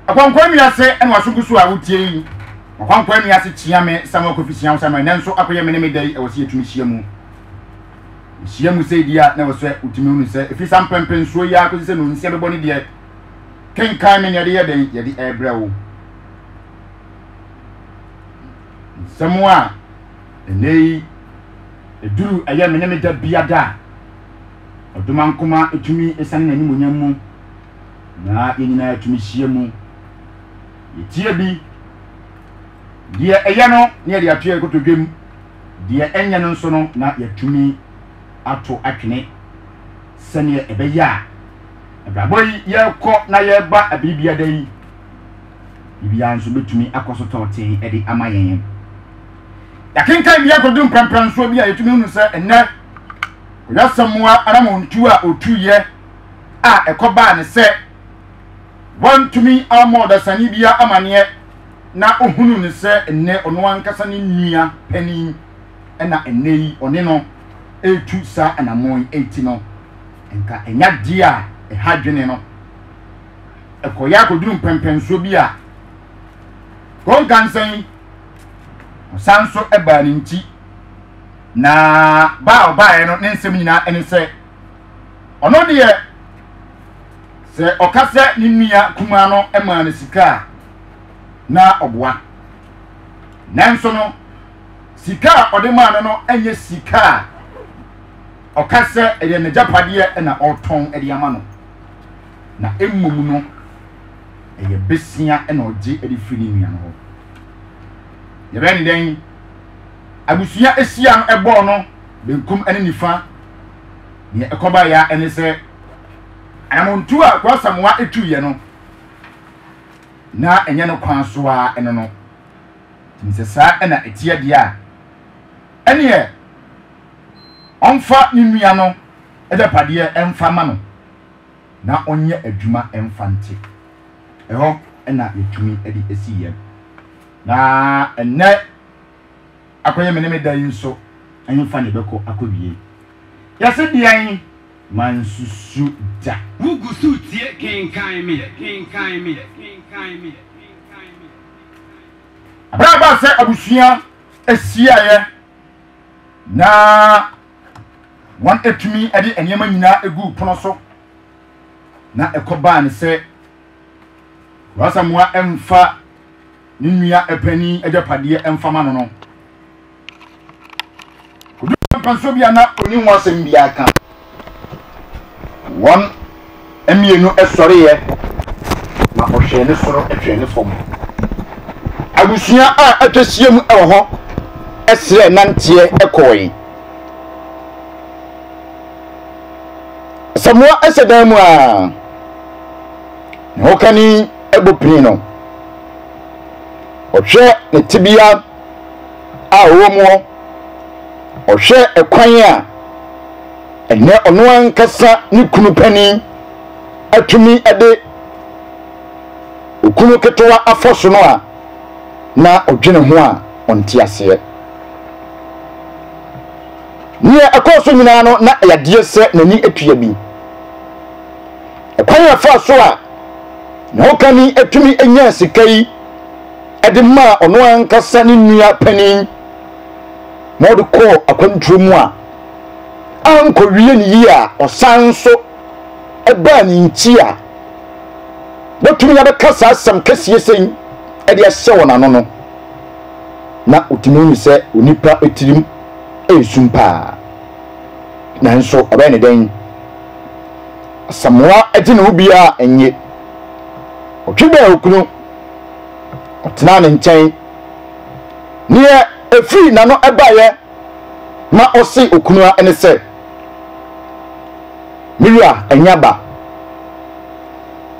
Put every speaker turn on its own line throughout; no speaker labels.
Ɔkɔnkɔn wiase ɛna wasogu so a wotie yi. Ɔkɔnkɔn wiase kyia me Samuel Kofi Siam Samuel nɛ nso akɔyɛ me ne me dɛ yi ɛwɔ sɛ yɛtumi hyia mu. Hyia mu sɛ di a na ɛwɔ sɛ wotumi hunu sɛ ɛfiri sa mpɛmpɛ nsuo yi a kɔsi sɛ nonsia bɛbɔ ne deɛ kenkan me ne yɛde yɛ dɛn yɛde ɛbrɛ wo. Nsɛm a ɛnɛ yi ɛduru ɛyɛ me ne me da biada a ɔdomankoma ɛtumi ɛsane n'animonyam mu na yɛn nyinaa tumi hyia mu. Yɛtie bi, deɛ ɛyɛ no na yɛde ato yɛn kotodwam, deɛ ɛnyɛ no nso no na yɛatumi ato atwene sɛdeɛ ɛbɛyɛ a abrabɔ yi yɛrekɔ na yɛreba abiri biada yi biribiara nso bɛtumi akɔ so tɔɔtee de ama yɛn. Yɛakenkan bi akɔdu mprɛmprɛnsoɔ bi a yɛtumi hunu sɛ ɛnnɛ ɔyɛ Asamoah Aramontuo a ɔtuiɛ a ɛkɔbaa ne sɛ wantumi ammɔ ɔdasani biara amanneɛ na ohunuu no sɛ nnɛ ɔno ankasa ne nua panin na ɛnnɛ yi ɔne no retu saa anammɔn yi ti no, nka ɛnyɛ adeɛ a ɛha adwene no. Ɛkɔeɛ akɔduru mpɛnpɛnsoɔ bi a Konkansa yi ɔsan nso baa ne nti, na ba a ɔbaeɛ no ne nsɛm nyinaa ne sɛ, Ɔno deɛ, sɛ ɔka sɛ ne nua kumaa no maa no sika a, na ɔboa. Nanso no, sika a ɔde maa no no nyɛ sika a ɔka sɛ ɛyɛ n'agyapadeɛ na ɔretɔn de ama no, na mmom no, ɛyɛ besia na ɔgye de firi ne nua no hɔ. Yɛbɛn dɛn? Abusua asia no bɔɔ no benkum ne nifa. Nea ɛkɔbaeɛ ara ne sɛ, anammɔntuo a Akoa Asamoah tuiɛ no, na ɛnyɛ ne kwan so ara no no. Ɛtumi sɛ saa na ɛteɛ deɛ a, ɛnneɛ ɔmfa ne nua no agyapadeɛ mfa mma no na ɔnyɛ adwuma mfa nte. Ɛhɔ na yɛtumi de si yɛn. Na ɛnnɛ akɔyɛ me ne me da yi nso ɛhefa na ɛbɛkɔ akɔwie? Yɛse deɛn? Mansusu da. Wo gu so retie
kenkan me, kenkan me, kenkan me,
kenkan me. Berɛ a ɛbaa sɛ abusua hyiaeɛ na wɔatumi de nneɛma nyinaa gu pono so na ɛkɔbaa ne sɛ Rwasamoa mfa ne nua panin agyapadeɛ mfa ma no no. Ɔduru mpanso bi a na ɔni ho asɛm biara ka. Wɔn mmienu sɔreeɛ na ɔhwɛɛ ne soro hwɛɛ ne fam. Abusua a atwa hyia mu wɔ hɔ srɛ nanteɛ kɔɔe. Asamoah hyɛ dan mu a. ne ho kani abu pii no, ɔhwɛ ne tebea a ɔwɔ mu hɔ, ɔhwɛ ɛkwan a ɛnɛ ɔno ankasa ne kunu panin atumi de okunu ketewa afɔ so no a na ɔdwene ho a ɔnte aseɛ. Neɛ ɛkɔɔ so nyinaa no na ɛyɛ adeɛ sɛ n'ani atua bi. Ɔkwan a ɛfaa so a ne hokani tumi nyaa sika yi de maa ɔno ankasa ne nua panyin ma ɔde kɔɔ akwantuo mu a ankɔwie ne yie a ɔsan nso baa ne nti a wɔtumi abɛka saa asɛm kɛseɛ sɛn de ahyɛ wɔn ano no na ɔtumi hu sɛ onipa tirim ɛresum paa nanso ɔbɛyɛ ne dɛn Asamoah gye ne ho biara nnye. Ɔtwe bɛn okunu. Ɔtena ne nkyɛn. Neɛ ɛfiri n'ano baeɛ ma ɔse okunu a ɛne sɛ, Me wura ɛnyɛ aba.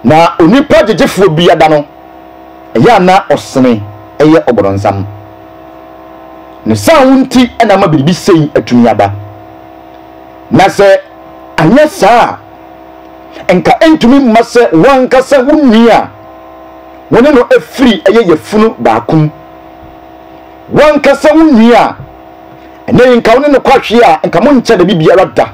Na onipa gyegyefoɔ bi ada no, ɛyɛ a na ɔsene yɛ ɔbɔdɔnsam. Ne saa wo nti na ama biribi sei atumi aba. Na sɛ Anyɛ saa a, anka entumi mma sɛ wo ankasa wo nua a wo ne no afiri yɛ yafunu baako mu, wo ankasa wo nua a ɛnnɛ yi nka wo ne no kɔ ahwe a nka monkyɛ da bi biara da.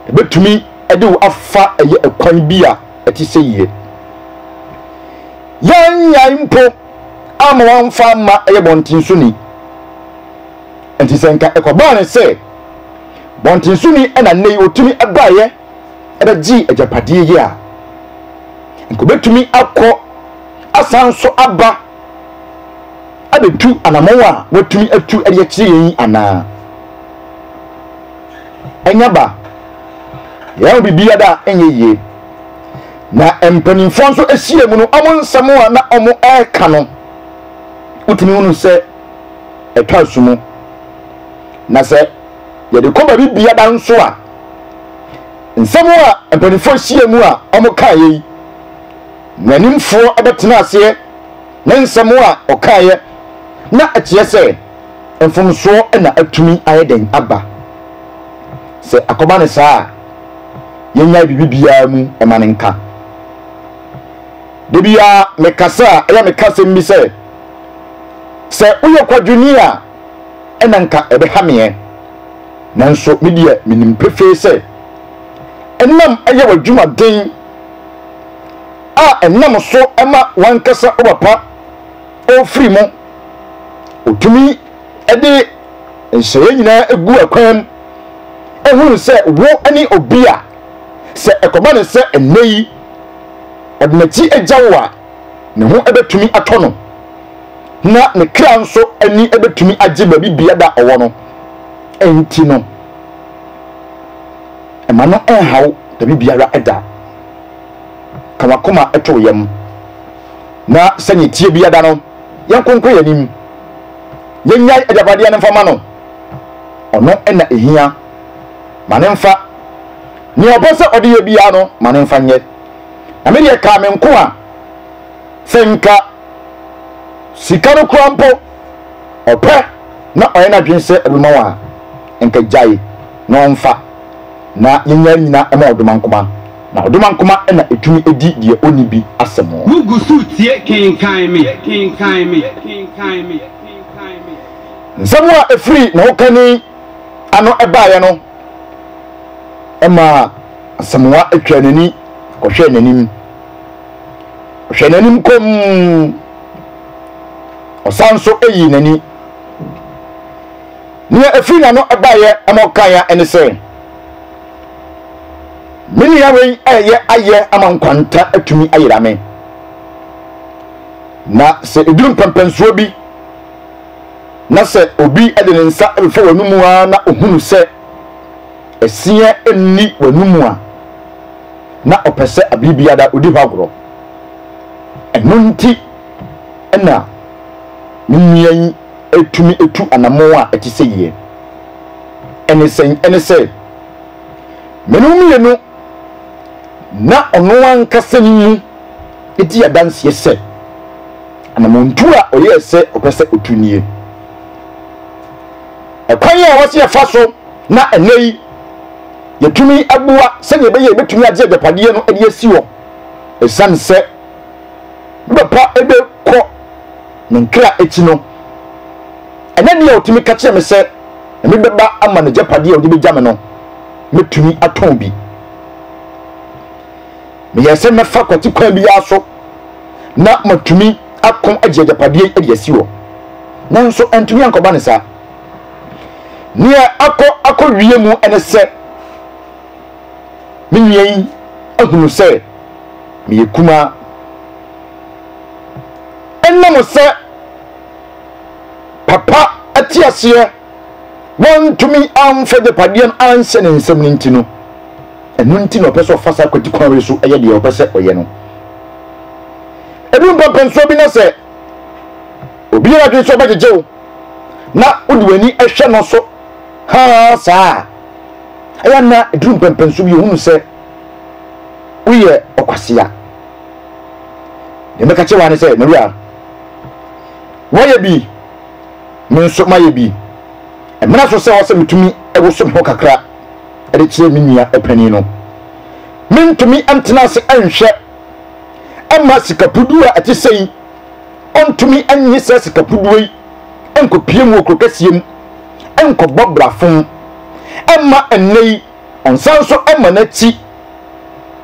Ebetumi de wo afa ɛyɛ ɛkwan bi a ɛte sɛ yie. Yɛannyae mpo amma wamfa amma ɛyɛ bɔnten so ni. Enti sɛ nka ɛkɔbaa ne sɛ, Bɔntenso ni na nnɛ yi otumi baeɛ bɛgyee agyapadeɛ yi a, nka obɛtumi akɔ asan nso aba abɛtu anamɔn a watumi atu de akyerɛ yɛn yi anaa? Ɛnyɛ ba. Yɛahu biribiara a ɛnyɛ yie. Na mpanimfoɔ nso ahyia mu no, wɔn nsɛm a na wɔreka no, wotumi hunu sɛ ɛtɔ asu mu. na sɛ yɛde kɔ baabi biara nso a, nsɛm a mpanimfoɔ ahyia mu a wɔkaeɛ yi, mmaranimfoɔ bɛtena aseɛ ne nsɛm a wɔkaeɛ na ɛkyerɛ sɛ mfomsoɔ na atumi ayɛ dɛn aba. Sɛ akɔba no saa a, yɛnyae biribi biara mu ma no nka. Da biara mekasa a, ɛyɛ meka asɛm bi sɛ, sɛ woyɛ kwadwoni a, na anka ɛbɛha me ɛ, nanso me deɛ menim pefee sɛ ɛnam ɛyɛ w'adwuma den a ɛnam so ma w'ankasa wo papa ɔrefiri mu, ɔtumi de nhyɛeɛ nyinaa gu akwan mu, ɛhunu sɛ wo ne obi a sɛ ɛkɔba ne sɛ ɛnnɛ yi ɔde n'akyi agya wo a, ne ho bɛtumi atɔ no, na ne kra nso ani bɛtumi agye baabi biara a ɔwɔ no. Enti no, mma no nhaw baabi biara da. Ka w'akoma to wo yam, na sɛnea ɛteɛ biara no, yɛnkonkɔ yɛn anim. Yɛnnyae agyapadeɛ no mfa mma no. Ɔno na ɛhia. Ma no mfa. Nea ɔpɛ sɛ ɔde yɛ biara no, ma no mfa nyɛ. Na me deɛ kaa me nko a sɛ nka sika no koraa mpo ɔpɛ na ɔyɛ n'adwene sɛ ɔde bɛma wo a, nka gyae na ɔmfa na yɛnyɛ nnyina mma ɔdomankoma, na ɔdomankoma na ɛtumi di deɛ ɔnni bi asɛm. Wo gu so retie
kenkan me, kenkan me, kenkan me, kenkan
me. Nsɛm a ɛfiri ne hokani ano baeɛ no. ɛmaa Asamoah twaa n'ani kɔhwɛɛ n'anim. Ɔhwɛɛ n'anim komm. Ɔsan nso yii n'ani. Nea ɛfiri n'ano baeɛ ɛma ɔkaeɛ ɛne sɛ, Me nua wei ɛreyɛ ayɛ ama nkwanta atumi ayera me. Na sɛ ɛduru mpɛmpɛnsoɔ bi, na sɛ obi de ne nsa bɛfa w'anom ara na ohunu sɛ ɛseɛ nni w'anom a, na ɔpɛ sɛ abere biara odi hɔ agorɔ. Ɛno nti na me nua yi tumi tu anammɔn a ɛte sɛ yie. Ɛne sɛn? Ɛne sɛ, me ne wo mmienu na ɔno ankasa ne mu di adanseɛ sɛ Anammɔntu a ɔyɛe sɛ ɔpɛ sɛ otu nie. Ɛkwan a ɛwɔ sɛ yɛfa so na ɛnnɛ yi yɛtumi boa sɛnea ɛbɛyɛ yɛbɛtumi agye agyapadeɛ no de asi hɔ ɛsiane sɛ me papa bɛkɔ ne nkra akyi no, ɛnɛ deɛ ɔtumi ka kyerɛ me sɛ ɛme bɛba ama n'agyapadeɛ a ɔde bɛgya me no, mɛtumi atɔn bi. Meyɛɛ sɛ mɛfa kwati kwan biara so na matumi ako agye agyapadeɛ yi de asi hɔ, nanso antumi ankɔba no saa. Nea akɔ akɔwie mu ne sɛ me nua yi ahunu sɛ meyɛ kumaa. Ɛnam sɛ papa te aseɛ wɔantumi amfa agyapadeɛ no anhyɛ ne nsam no nti no, ɛno nti na ɔpɛ sɛ ɔfa saa kwati kwan wei so yɛ deɛ ɔpɛ sɛ ɔyɛ no. Edu mpɛmpɛnsoɔ bi na sɛ obi yɛ adwene sɛ ɔbɛgyegye wo na wode w'ani hwɛ no so haa saa a, ɛyɛ na ɛduru mpɛmpɛnsoɔ bi ɔhunu sɛ woyɛ ɔkwasea. Deɛ mɛka kyerɛ wa ne sɛ, Maria, woayɛ bi Me nso mayɛ bi. Ɛmmra so sɛ ɛwɔ sɛ mitumi woso me ho kakra de kyerɛ me nua panin no. Merentumi ntena ase nhwɛ mma sika puduo a ɛte sɛ yi ɔntumi nnye saa sika puduo yi nkɔpue mu wɔ kuro kɛseɛ mu nkɔbɔ brafom mma ɛnnɛ yi ɔnsan nso mma n'akyi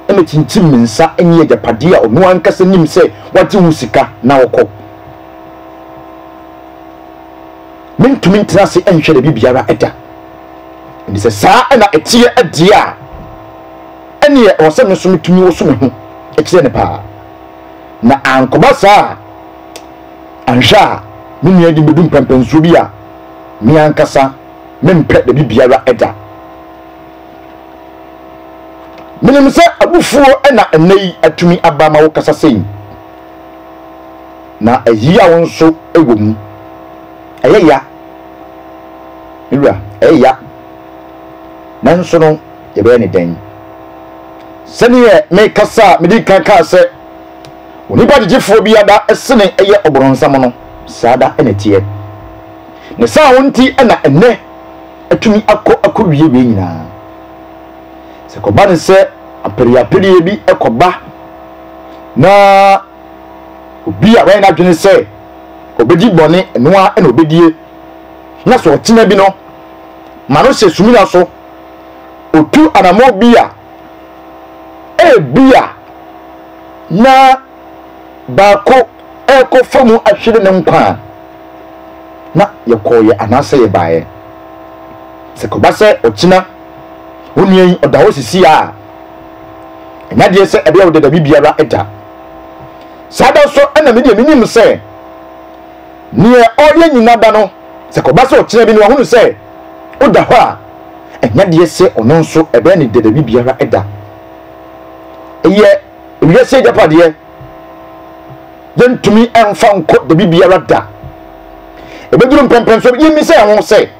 na kyinkyim ne nsa nyi agyapadeɛ a ɔno ankasa nim sɛ wagye ho sika na ɔkɔ. Merentumi ntena ase nhwɛ baabi biara da. Ɛnde sɛ saa na ɛteɛ deɛ a, ɛnneɛ ɛwɔ sɛ me nso metumi woso me ho kyerɛ no paa. Na ankɔba saa a, anhwɛ a me nua de bɛdu mpɛmpɛnsoɔ bi a me ankasa mempɛ baabi biara da. Menim sɛ abufuo na ɛnnɛ yi atumi aba ma wokasa sei. Na ɛyaw nso wɔ mu. Ɛyɛ ya, me wura, ɛyɛ ya. Nanso no, yɛbɛyɛ no dɛn? Sɛdeɛ mekasa a medi kan kaa sɛ onipa gyegyefoɔ biara da sene yɛ ɔboronsam no, saa da na ɛteɛ. Ne saa ho nti na ɛnnɛ atumi akɔ akɔwie wei nyinaa. Sɛ kɔba no sɛ apereapereɛ bi kɔba na Obi a wayɛ n'adwene sɛ obedi bɔne, ɛno ara na obedie, na sɛ ɔtena bi no ma no hyɛ sumina so, otu anammɔn bi a, ebia na baako rekɔfa mu ahwere ne nkwa a, na yɛkɔeɛ anaasɛ yɛbaeɛ. Sɛ kɔba sɛ ɔkyena onua yi ɔda hɔ sisi a, ɛnya deɛ sɛ ɛbɛyɛ wo dɛ dabi biara da saa da so ɛna me deɛ menim sɛ neɛ ɔyɛ nyina da no sɛ kɔba sɛ ɔkyena bi no wahunu sɛ woda hɔ a ɛnya deɛ sɛ ɔno nso ɛbɛyɛ ne dɛ dabi biara da ɛyɛ wiase agyapadeɛ yɛntumi ɛmfa nkɔ dabi biara da ɛbɛduru mpɛmpɛnso yɛmmi sɛ ɛho sɛ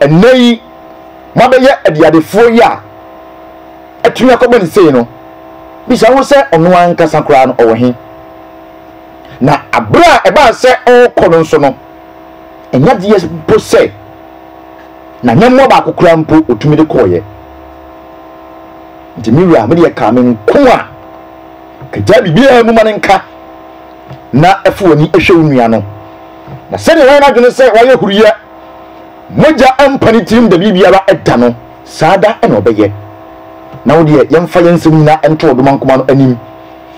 Ɛnnɛ yi, moabɛyɛ adiadefoɔ yi a atumi akɔbɔ no sei no, bisa ho sɛ ɔno ankasa koraa no ɔwɔ he? Na aberɛ a ɛbaa sɛ ɔrekɔ no nso no, ɛnyɛ adeɛ mpo sɛ n'anyɛmmoa baako koraa mpo ɔtumi de kɔeɛ. Nti me wura, medeɛ kaa me nko a, agyae biribiara mu ma no nka. na fa w'ani hwɛ wo nua no, na sɛdeɛ wayɛ n'adwene sɛ wayɛ huruiɛ, mogya mpa ne tirim da biribiara da no, saa da na ɔbɛyɛ. Na wo deɛ, yɛmfa yɛn nsɛm nyinaa nto ɔdomankoma no anim,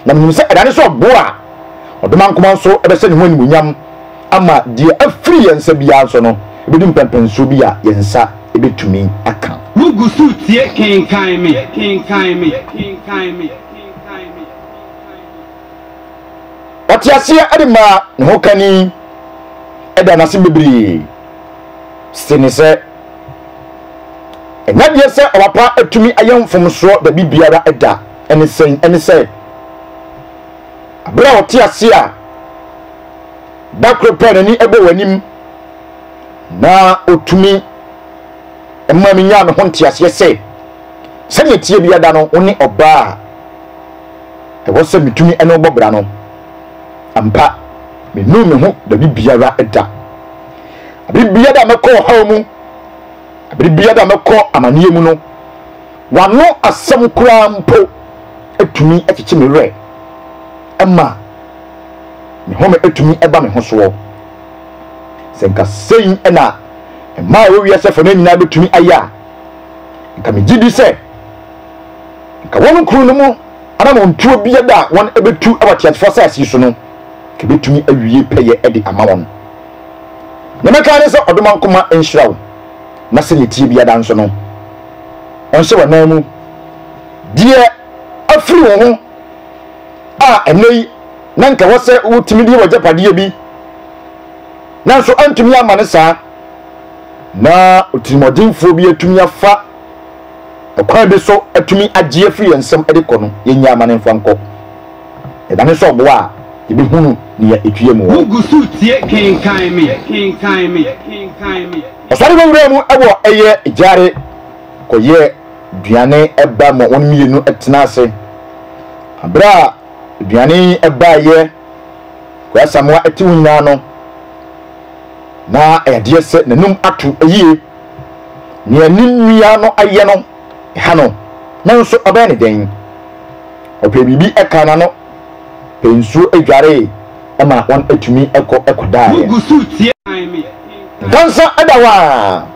na menim sɛ ɛda ne so ɔbo a, ɔdomankoma nso bɛhyɛ ne ho animuonyam ama deɛ afiri yɛn nsa biara nso no, ɛbɛdu mpɛnpɛnsoɔ bi a yɛn nsa bɛtumi aka. Wogu so retie
Kenkan Me!
Ɔte aseɛ de maa ne ho kani da no ase bebree sene sɛ ɛnyɛ adeɛ sɛ ɔba pa atumi ayɛ mfomsoɔ baabi biara da. Ɛne sɛn? Ɛne sɛ berɛ a ɔte ase a da koro pɛ n'ani bɔ w'anim na ɔtumi ma menyaa me ho nteaseɛ sɛ sɛdeɛ tie biada no wo ne ɔbaa ɛwɔ sɛ mitumi ne wo bɔ bra no, ampa, minnuu me ho baabi biara da. Bere biara a mɛkɔ ɔhaw mu, bere biara a mɛkɔ amanneɛ mu no, w'ano asɛm koraa mpo tumi kyekye me werɛ. Ɛma me home tumi ba me ho soɔ. Sɛ nka sei na mmaa a ɛwɔ wiase afanan nyinaa betumi ayɛ a, nka migye di sɛ Nka wɔn kuro no mu anammɔntuo biara a wɔbɛtu wɔ ateasefoɔ asase yi so no, nka mɛtumi awie pɛyɛ de ama wɔn. Deɛ mɛka ne sɛ, Ɔdomankoma nhyira wo, na sɛdeɛ ɛteɛ biara nso no, ɔnhyɛ w'anan mu. Deɛ afiri wo ho a ɛnnɛ yi na nka ɛwɔ sɛ wotumi de yɛ w'agyapadeɛ bi, nanso antumi amma no saa, na otirimuɔdenfoɔ bi atumi afa ɔkwan bi so atumi agye afi yɛn nsam de kɔ no, yennyaa ma no mfa nkɔ. Ɛdane sɛ ɔboa a, yebehunu nea etwea mu wɔ. Ɔsɔre wɔ nwura mu wɔ ɛyɛ gyare kɔyɛ aduane ba ma wɔn mmienu tena ase. Bere a aduane yi baeɛ kɔɔ Asamoah atiw nyinaa no, na ɛyɛ adeɛ sɛ n'anom ato yie Nea ne nua no ayɛ no ha no, nanso ɔbɛyɛ no dɛn? Ɔpɛ biribi ka n'ano, pɛ nsuo dwaree ma wɔatumi kɔ kɔdaeɛ. Nyansa da hɔ a,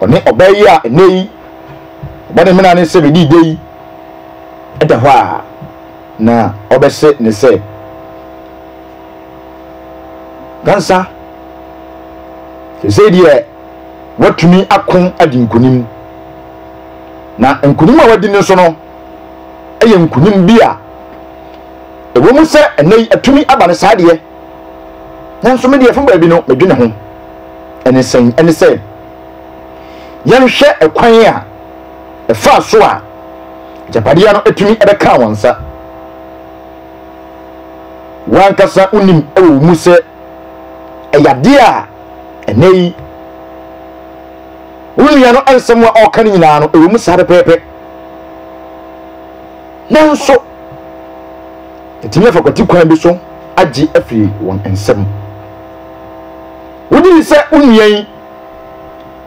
ɔne ɔbaa yi a ɛnnɛ yi ɔbɔ ne mena ne sɛ bɛdii dɛ yi da hɔ a, Na ɔbɛse ne sɛ, Nnansa, seesei deɛ woatumi ako adi nkonim. Na nkonim a woadi no nso no yɛ nkonim bi a ɛwɔ mu sɛ ɛnɛ yi atumi aba no saa deɛ, nanso me deɛ fa baabi no medwene ho. Ɛne sɛn? Ɛne sɛ yɛnhwɛ ɛkwan a ɛfaa so a agyapadeɛ no tumi bɛkaa wɔn nsa. W'ankasa wonim wɔ wo mu sɛ ɛyɛ adeɛ a ɛnɛ yi wo nua no nsɛm a ɔreka no nyinaa no ɛwɔ mu saa pɛpɛɛpɛ. Nanso ɛtumi afa kwati kwan bi so agye afiri wɔn nsam. Wogye di sɛ wo nua yi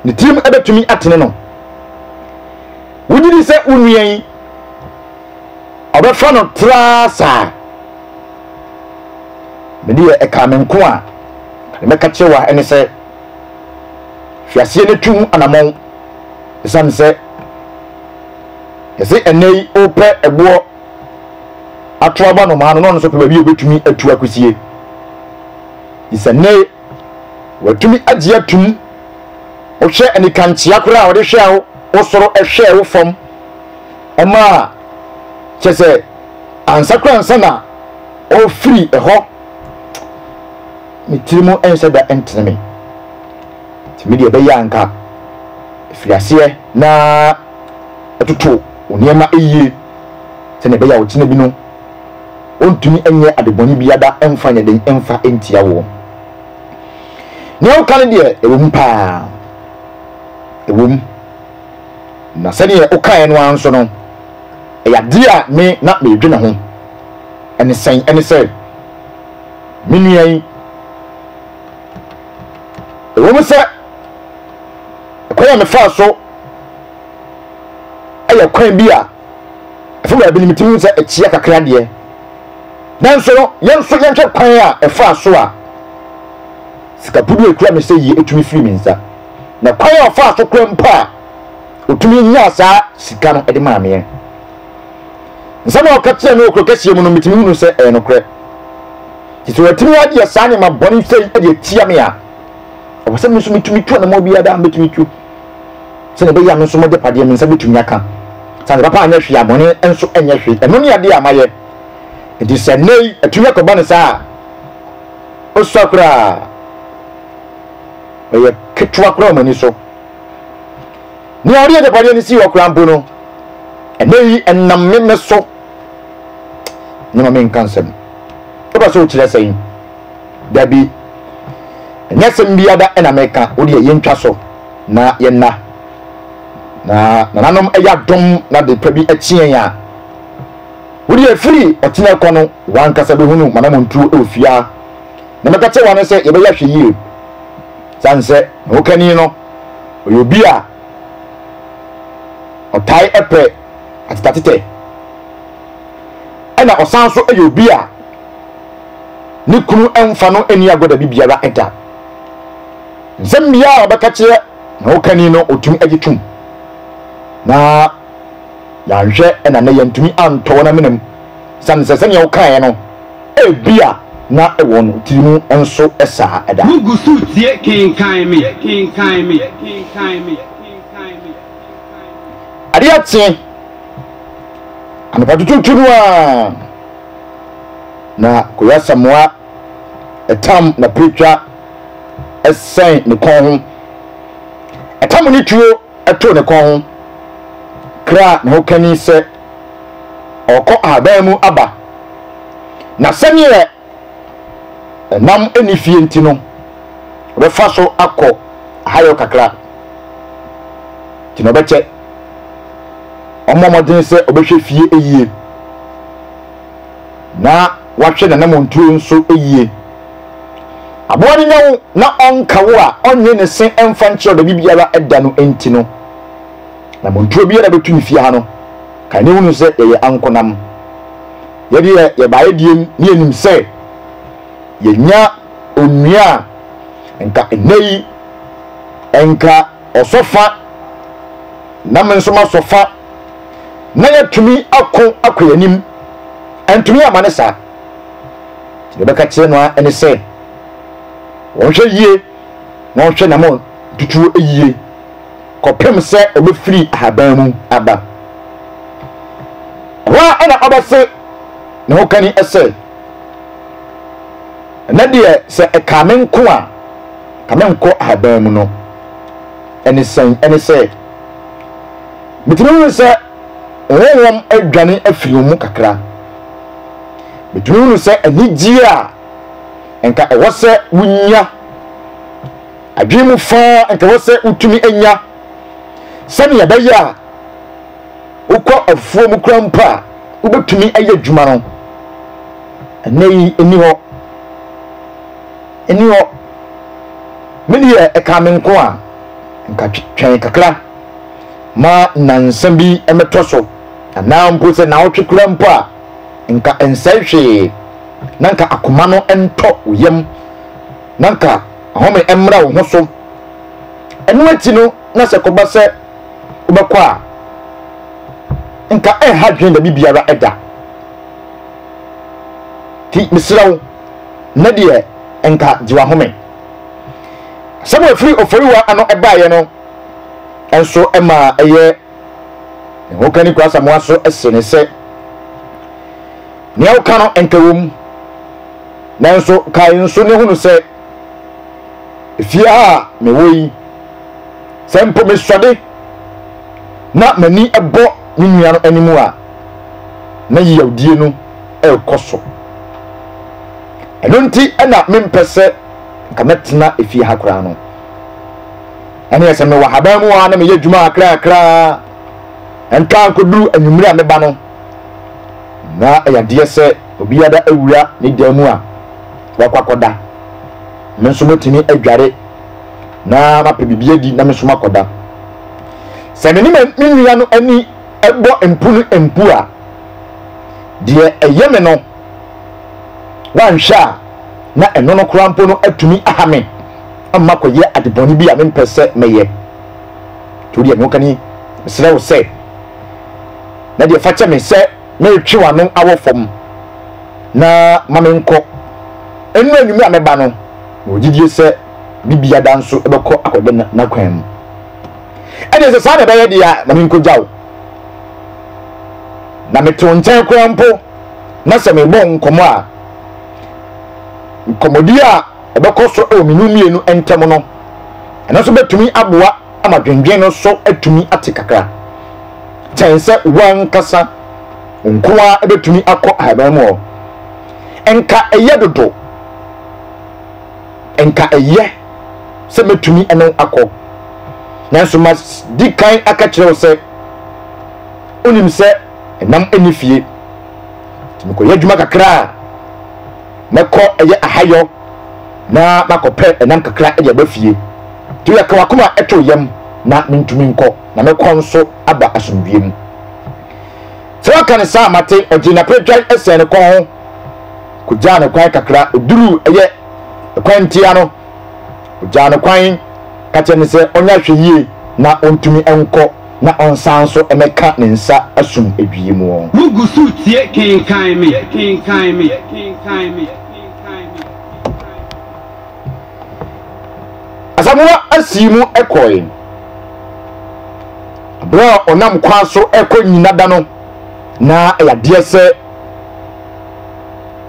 ne tirim bɛtumi atene no? Wogye di sɛ wo nua yi, ɔbɛfa no traa saa. Me deɛ ɛkaa me nko a, mɛka kyerɛ wa ɛne sɛ, hwɛ aseɛ no tu ho anamɔn. Ɛsiane sɛ yɛse ɛnɛ yi wopɛ ɛboɔ ato aba nomaa no, na ɔno nso pɛ baabi a obɛtumi atu akɔsie. It's a Watumi agye atum. Wohwɛ anikankyea koraa a ɔde hwɛɛ wo wo soro hwɛɛ wo fam ma a, kyerɛ sɛ ansa koraa ansa na ɔfiri hɔ ne tiri mu nhyɛ da ntene me. Nti me deɛ ɛbɛyɛ a nka ɛfiri aseɛ na ɛtoto wo nneɛma yie sɛdeɛ ɛbɛyɛ a ɔkyena bi no Ontumi nyɛ ade bɔne biada mfa nyɛ den mfa ntia woɔ. Nea woka no deɛ, ɛwɔ mu paa. Ɛwɔ mu. Na sɛdeɛ wokaeɛ no ara nso no, ɛyɛ adeɛ a me na meredwene ho. Ɛne sɛn? Ɛne sɛ, me nua yi, ɛwɔ mu sɛ kwan a mefaa so yɛ kwan bi a, Afei baabi no metumi hu sɛ akyia kakra deɛ. Nanso no, yɛn nso yɛnhwɛ kwan a ɛfaa so a sika pudu a ɛkura me sɛ yie tumi firi me nsa, na kwan a ɔfaa so koraa mpo a ɔtumi nyaa saa sika no de maa meɛ. Nsɛm a ɔka kyerɛɛ me wɔ kuro kɛseɛ mu no, metumi hunu sɛ ɛyɛ nokorɛ. Nti sɛ watumi ayɛ saa nneɛma bɔne sɛi de atia me a, ɛwɔ sɛ me nso metumi tu anammɔn biara daa mɛtumi tu. sɛdeɛ ɛbɛyɛ a me nso m'agyapadeɛ, me nsa bɛtumi aka. Sɛ adepa pa anyɛ hwee a, bɔne nso nyɛ hwee. Ɛno ne adeɛ a mayɛ. Enti sɛ nnɛ yi atumi akɔba no saa a, ɔsua koraa ɔyɛ ketewa koraa wɔ m'ani so. Nea ɔde agyapadeɛ no sii hɔ koraa mpo no, ɛnnɛ yi ɛnam me so na ma menka nsɛm. Wopɛ sɛ wokyerɛ sɛn? Dabi, ɛnyɛ asɛm biara na meka, wo deɛ yɛntwa so na yɛnna. Na nananom yɛ adom na de pa bi akyi yɛn a, wo deɛ ɛfiri ɔkyena kɔ no, w'ankasa bɛhunu m'anammɔntuo wɔ fie ha. Na meka kyerɛ wɔn sɛ yɛbɛyɛ ahwɛyie. Sane sɛ ne hokani no, ɔyɛ obi a ɔtae pɛ atetatete, ɛna ɔsan so yɛ obi a ne kunu mfa no nni agorɔ baabi biara da. Nsɛm biara a ɔbɛka kyerɛ na ɔkani no ɔtumi agye tom. Na yɛanhwɛ na nɛ yɛntumi antɔ wɔn amenam sane sɛ sɛnea ɔkaeɛ no ebi a na wɔn tiri mu nso saa da. Wo gu so tie
kenkan me kenkan me kenkan me kenkan me.
Adeɛ kye anɔpa tutuutu no ara. na Koyasamoa tam na Preetwa sɛn ne kɔn ho. Ɛtam ne tuo too ne kɔn ho, kraa ne ho kani sɛ ɔrekɔ ahaban mu aba, na sɛdeɛ nam nni fie nti no, ɔbɛfa so akɔ ahayɔ kakra. Nti na ɔbɛkyɛ. Ɔmmɔ mmɔden sɛ ɔbɛhwɛ fie yie. na wahwɛ n'anammɔntuo nso yie. Aboa no nya wo na ɔnka wo a ɔnwe ne se mfa nkyerɛ ɔdabi biara da no nti no, anammɔntuo biara bɛtu ne fie ha no, kae na hunu sɛ yɛyɛ ankonam. Yɛdeɛ yɛbaeɛ diem ne yɛnim sɛ yɛnya onua a nka nnɛ yi nka ɔsɔ fa na me nso masɔ fa na yɛatumi ako akɔ yɛn anim. Ɛntumi ama ne saa. Deɛ bɛka kyerɛ no ara ne sɛ wɔnhwɛ yie na wɔnhwɛ namɔn tutuo yie kɔpem sɛ ɔbɛfiri ahaban mu aba. Ɛhɔ a ɛna ɔbɛse ne ho kani sɛ. Ɛnɛ deɛ sɛ ɛkaa me nko a, nka menkɔ ahaban mu no ne sɛn? Ɛne sɛ, metumi hunu sɛ honhom adwane afiri wɔn mu kakra. Metumi hunu sɛ anigyeɛ a nka ɛwɔ sɛ wonya, adwene mu fã a nka ɛwɔ sɛ wotumi nya, sɛdeɛ ɛbɛyɛ a, Wokɔ afuom koraa mpo a, wobɛtumi ayɛ adwuma no. Ɛnnɛ yi, ɛnni hɔ. Ɛnni hɔ. Me deɛ, ɛkaa me nko a, nka twɛn kakra ma nnansa bi mmɛtɔ so, anaa mpo sɛ naawɔtwe koraa mpo a, nka ɛnsɛe hwee, na nka akoma no ntɔ wo yam, na nka ahome mmra wo ho so. Ɛno akyi no, na sɛ ɛkɔba sɛ wobɛkɔ a nka ɛnha dwen baabi biara da ti mesrɛ wo na deɛ nka gye wahome sɛ mo afiri oforiwa ano ɛbaeɛ no nso ɛmaa ɛyɛ ne ho ka ne kura samoa so ɛse ne sɛ nea woka no nka wɔ mu nanso kae nso ne hunu sɛ Efie a mewɔ yi, sɛ mpo mesɔde na m'ani bɔ me nua no anim a, na yiyawdie no rekɔ so. Ɛno nti na mempɛ sɛ nka mɛtena efie ha koraa no. Ɛneɛ sɛ mewɔ haban mu a na meyɛ adwuma kakrakraa ntwa nkɔduru anwummere a meba no, na ɛyɛ adeɛ sɛ obiara awura ne dan mu a wakɔ akɔda me nso mɛtumi adware na mapɛ biribi adi na me nso makɔda sɛ me ne me nua no ani bɔ mpu no mpu a deɛ ɛyɛ me no wanhwɛ a na ɛno no koraa mpo no atumi aha me ama kɔyɛ adebɔne bi a mempɛ sɛ mɛyɛ nti wodeɛ mewokani mesrɛ wo sɛ na deɛ fa kyɛ me sɛ Meretwe w'ano awɔ fam na ma menkɔ. Ɛno anwummere a mɛba no, mewɔ gyidie sɛ me biada nso bɛkɔ akɔda n'akwan mu. Ɛnneɛ sɛ saa na ɛbɛyɛ deɛ a, ma menkɔgya wo. Na mete wo nkyɛn koraa mpo, na sɛ merebɔ wo nkɔmmɔ a, nkɔmmɔdie a ɛbɛkɔ so wɔ me ne wo mmienu ntam no, ɛno nso bɛtumi aboa ama dwendwen no so atumi ate kakra. Kyɛn sɛ w'ankasa nko ara betumi akɔ ahaban mu hɔ. Nka ɛyɛ dodo. Nka ɛyɛ sɛ metumi ne wo akɔ. Nanso madi kan aka kyerɛ wo sɛ, wunim sɛ nam nni fie. Nti mekɔyɛ adwuma kakra a, mɛkɔ ɛyɛ ahayɔ. na makɔpɛ nam kakra de aba fie. Enti yɛka w'akoma too yam na mentumi nkɔ, na me kɔn nso aba asomdwoeɛ mu. Sɛ waka no saa a, mate. Ɔgyee n'aperedwan sɛn ne kɔn ho kɔgyaa no kwan kakra. Ɔduruu ɛyɛ kwan ntia no, ɔgyaa no kwan ka kyerɛ no sɛ ɔnyɛ ahwɛyie na ɔntumi nkɔ na ɔnsan nso mmɛka ne nsa asum adwie mu. Wogu so tie
Kenkan Me!
Asamoah asii mu kɔe. Berɛ a ɔnam kwan so rekɔ nnyina da no, na ɛyɛ adeɛ sɛ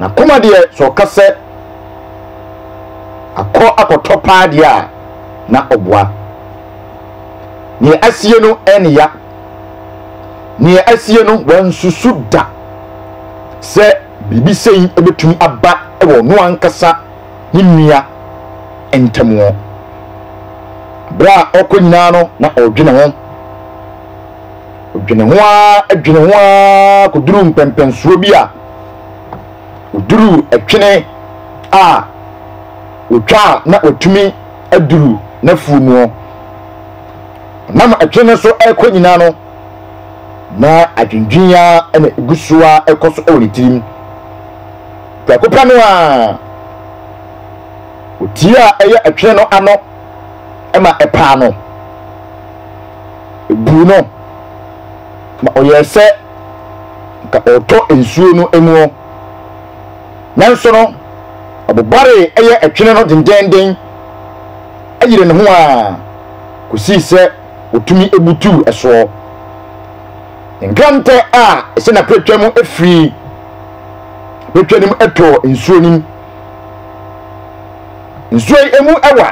n'akoma deɛ sɛ ɔka sɛ akɔ akɔtɔ paa deɛ a, na ɔboa. Neɛ asie no ɛne ya. Neɛ asie no wansusu da sɛ. Biribi sei bɛtumi aba wɔ ɔno ankasa ne nua ntam. Berɛ a ɔkɔ nyinaa no na ɔredwene ho. Ɔdwene ho ara dwene ho ara kɔduruu mpɛnpɛnsoɔ bi a ɔduruu ɛtwene a ɔtwa a na watumi aduru n'afuo mu. Ɔnam ɛtwene no so rekɔ nyinaa no, na adwendwen ara na egu so ara kɔ so wɔ ne tirim. Prɛko pɛ no ara, otie a ɛyɛ ɛtwene no ano ma ɛpaa no, ebuu no ma ɔyɛɛ sɛ nka ɔretɔ nsuo no mu. Nanso no, ɔbobaree ɛyɛ ɛtwene no dendeenden, ɛyeree ne ho ara kɔsii sɛ. otumi butuw soɔ. Nkrantɛ a ɛsɛ na pretwa mu firi pretwa no mu tɔ nsuo no mu. Nsuo yi mu ɛwa.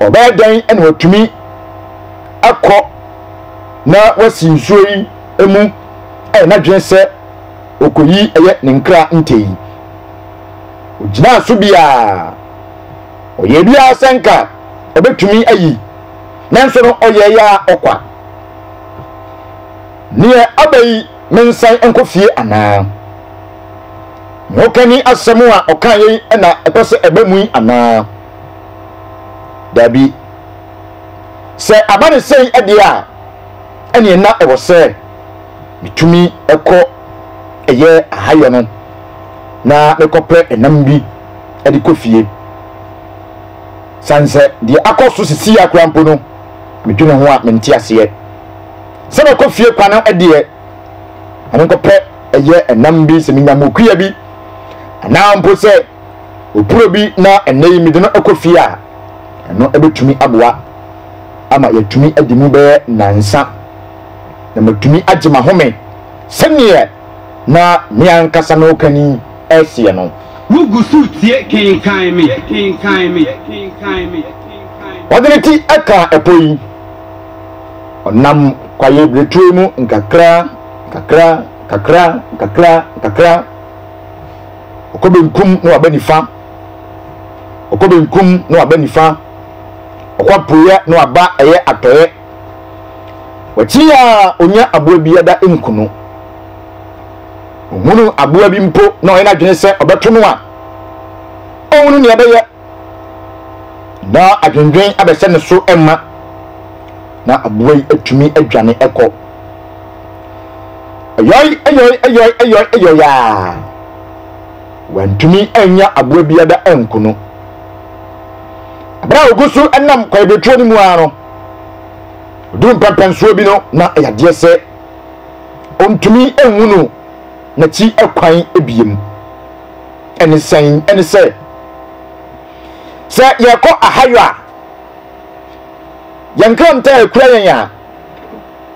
Ɔbɛyɛ dɛn na watumi akɔ na wasi nsuo yi mu ɛyɛ n'adwene sɛ ɔkɔyi ɛyɛ ne nkra ntɛ yi. Ɔgyinaa so biara, ɔyɛ biara sɛ nka ɔbɛtumi ayi nanso no ɔyɛeɛ ara ɔkwa. Neɛ aba yi mensan nkɔ fie anaa? Ne hokani asɛm a ɔkaeɛ yi na ɛpɛ sɛ ɛba mu yi anaa? Dabi. Sɛ aba no sɛi deɛ a, ɛneɛ na ɛwɔ sɛ metumi kɔ ɛyɛ ahayɔ no na mekɔpɛ ɛnam bi de kɔ fie. Sane sɛ deɛ akɔ so sisi a koraa mpo no, medwene ho a mente aseɛ. Sɛ mɛkɔ fie kwan no deɛ, ɛno nko pɛ ɛyɛ ɛnam bi, sɛ menya mokuya bi, anaa mpo sɛ opuro bi na ɛnnɛ yi mede no kɔ fie a, ɛno ɛbɛtumi aboa ama yɛatumi adi mu bɛyɛ nansa na matumi agye mahome sɛdeɛ Na me ankasa me okani ɛseɛ no. Wo gu so tie
kenkan me kenkan me kenkan me kenkan
me. Ɔde ne ti ɛkaa ɛpo yi. Ɔnam kwaeɛ biretuo mu nkakra nkakra nkakra nkakra nkakra. Ɔkɔ benkum na waba nifa. Ɔkɔ benkum na waba nifa. Ɔkɔ apueɛ na waba ɛyɛ atɔeɛ. Wakyiri a onya aboa bi ada nku no. Ohunu aboa bi mpo na ɔyɛ n'adwene sɛ ɔbɛto no a, ɔhunu nea ɛbɛyɛ na adwendwen abɛsɛ ne so mma na aboa yi atumi adwane ɛkɔ. Ɛyɔe ɛyɔe ɛyɔe ɛyɔe ɛyɔe a wantumi anya aboa bi ada anku no. Abere a ogu so nam kwaebetuo no mu ara no, Ɔduru mpɛmpɛnsoɔ bi no, na ɛyɛ adeɛ sɛ ɔntumi nhunu n'akyi kwan biem. Ɛne sɛn? Ɛne sɛ, sɛ yɛrekɔ ahayɔ a, yɛn nkrantɛ a ɛkura yɛn a,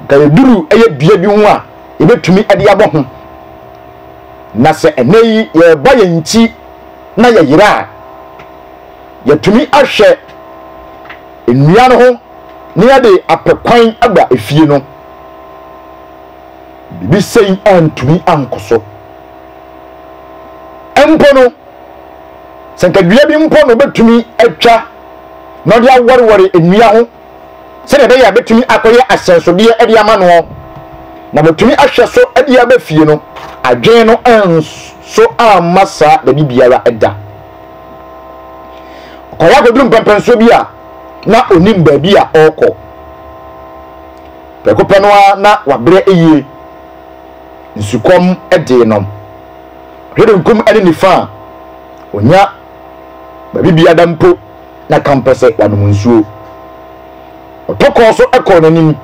nka yɛduru ɛyɛ dua bi ho a, yɛbɛtumi de abɔ ho. Na sɛ ɛnɛ yi yɛrebɔ yɛn nkyi na yɛyera a, yɛtumi ahwɛ nnua no ho na yɛde apɛ kwan aba efie no, biribi sɛi antumi ankɔ so. Mpo no, sɛ nka dua bi mpo na obetumi atwa na ɔde awɔrewɔre nnua ho sɛdeɛ ɛbɛyɛ a bɛtumi akɔyɛ asɛnsodeɛ de ama noɔ na wɔatumi ahwɛ so de aba fie no, adwene no nso amma saa da bi biara da. Ɔkɔeɛ akɔduru mpɛmpɛnsoɔ bi a na ɔnim baabi a ɔrekɔ. Prɛko pɛ no ara na wabrɛ yie. Nsukɔm dee no. Ɔhwɛ benkum ne nifa a, ɔnya baabi bia da mpo na kampɛ sɛ wanom nsuo. Ɔtɔ kɔɔ so kɔɔ n'anim.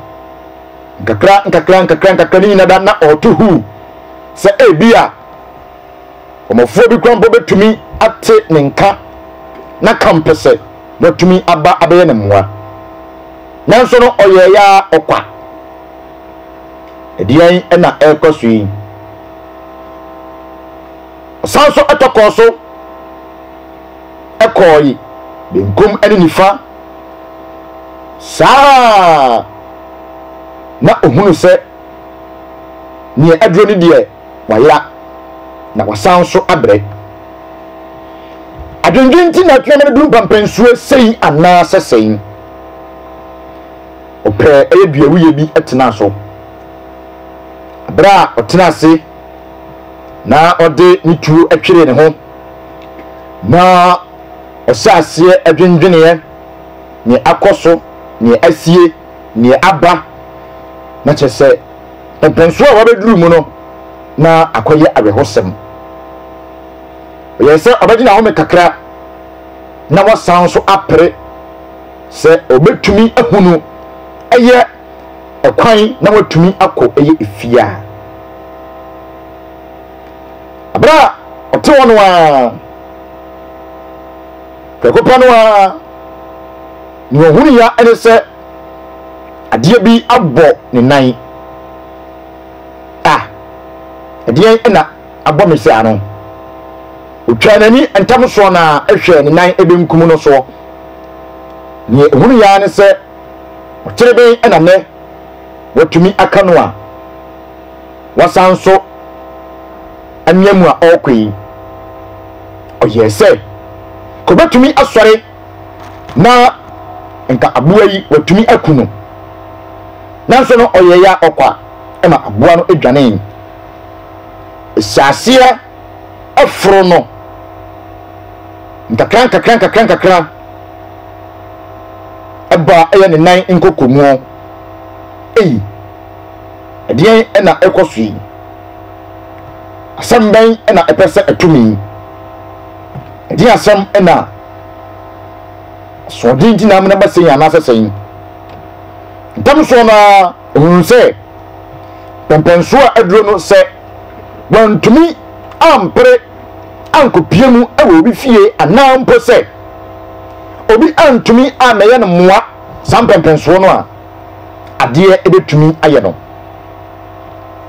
Nkakra nkakra nkakra nkakra ne nyina da na ɔreto huu sɛ ebia Ɔmɔfoɔ bi koraa mpo bɛtumi ate ne nka na ka mpɛ sɛ na watumi aba abɛyɛ ne mmoa. Nanso no, ɔyɛɛ yɛ ara ɔkwa. Ɛdeɛn na ɛrekɔ so yi? Ɔsan so tɔkɔɔ so kɔɔe benkum ne nifa. Saa ara na ɔhunu sɛ neɛ aduro no deɛ wayera na wasan nso abrɛ. Adwendwen nti na atuama no duru mpampansuo sei anaa sɛ sɛn? Ɔpɛɛ ɛyɛ duawuiɛ bi tenaa so. Berɛ a ɔtena ase na ɔde ne tuo tweree ne ho na ɔhyɛ aseɛ adwendweneɛ neɛ akɔ so, neɛ asie, neɛ aba na kyerɛ sɛ mponsoɔ a wabɛduru mu no na akɔyɛ awerɛhosɛm. Ɛyɛ sɛ ɔbɛgye n'ahome kakra na wasan nso apere sɛ ɔbɛtumi ahunu ɛyɛ ɛkwan na watumi akɔ ɛyɛ efie a. Abere a ɔte hɔ no ara, prɛko pɛ no ara, nea ɔhunu ya ɛne sɛ adeɛ bi abɔ ne nan a ɛdeɛn ɛna abɔ me saa no ɔtwaa n'ani ntam soɔ na ɛhwɛɛ ne nan ɛbɛnkum no soɔ neɛ ɛhunu yaa ne sɛ ɔkyere bɛn ɛna nɛ watumi aka no a wasan so anwea mu a ɔrekɔ yi ɔyɛɛ sɛ kɔbɛtumi asɔre na nka aboa yi watumi aku no nanso no ɔyɛeɛ a ɔkɔ a ɛma aboa no dwanee ɛhyɛ aseɛ ɛforo no nkakra nkakra nkakra nkakra ɛbaa ɛyɛ ne nan nkɔkɔmuo ei ɛdeɛn ɛna ɛkɔ so yi asɛm bɛn ɛna ɛpɛ sɛ ɛtumi Ɛdeɛn asɛm na asoɔden nti na amena ba sɛn anaasɛ sɛn? Ntɛm soɔ no ara ɔhunuu sɛ pɛmpɛnsoɔ aduro no sɛ wantumi ampere ankɔpie mu wɔ obi fie anaa mpo sɛ obi antumi ammɛyɛ no mmoa saa mpɛmpɛnsoɔ no a adeɛ ɛbɛtumi ayɛ no.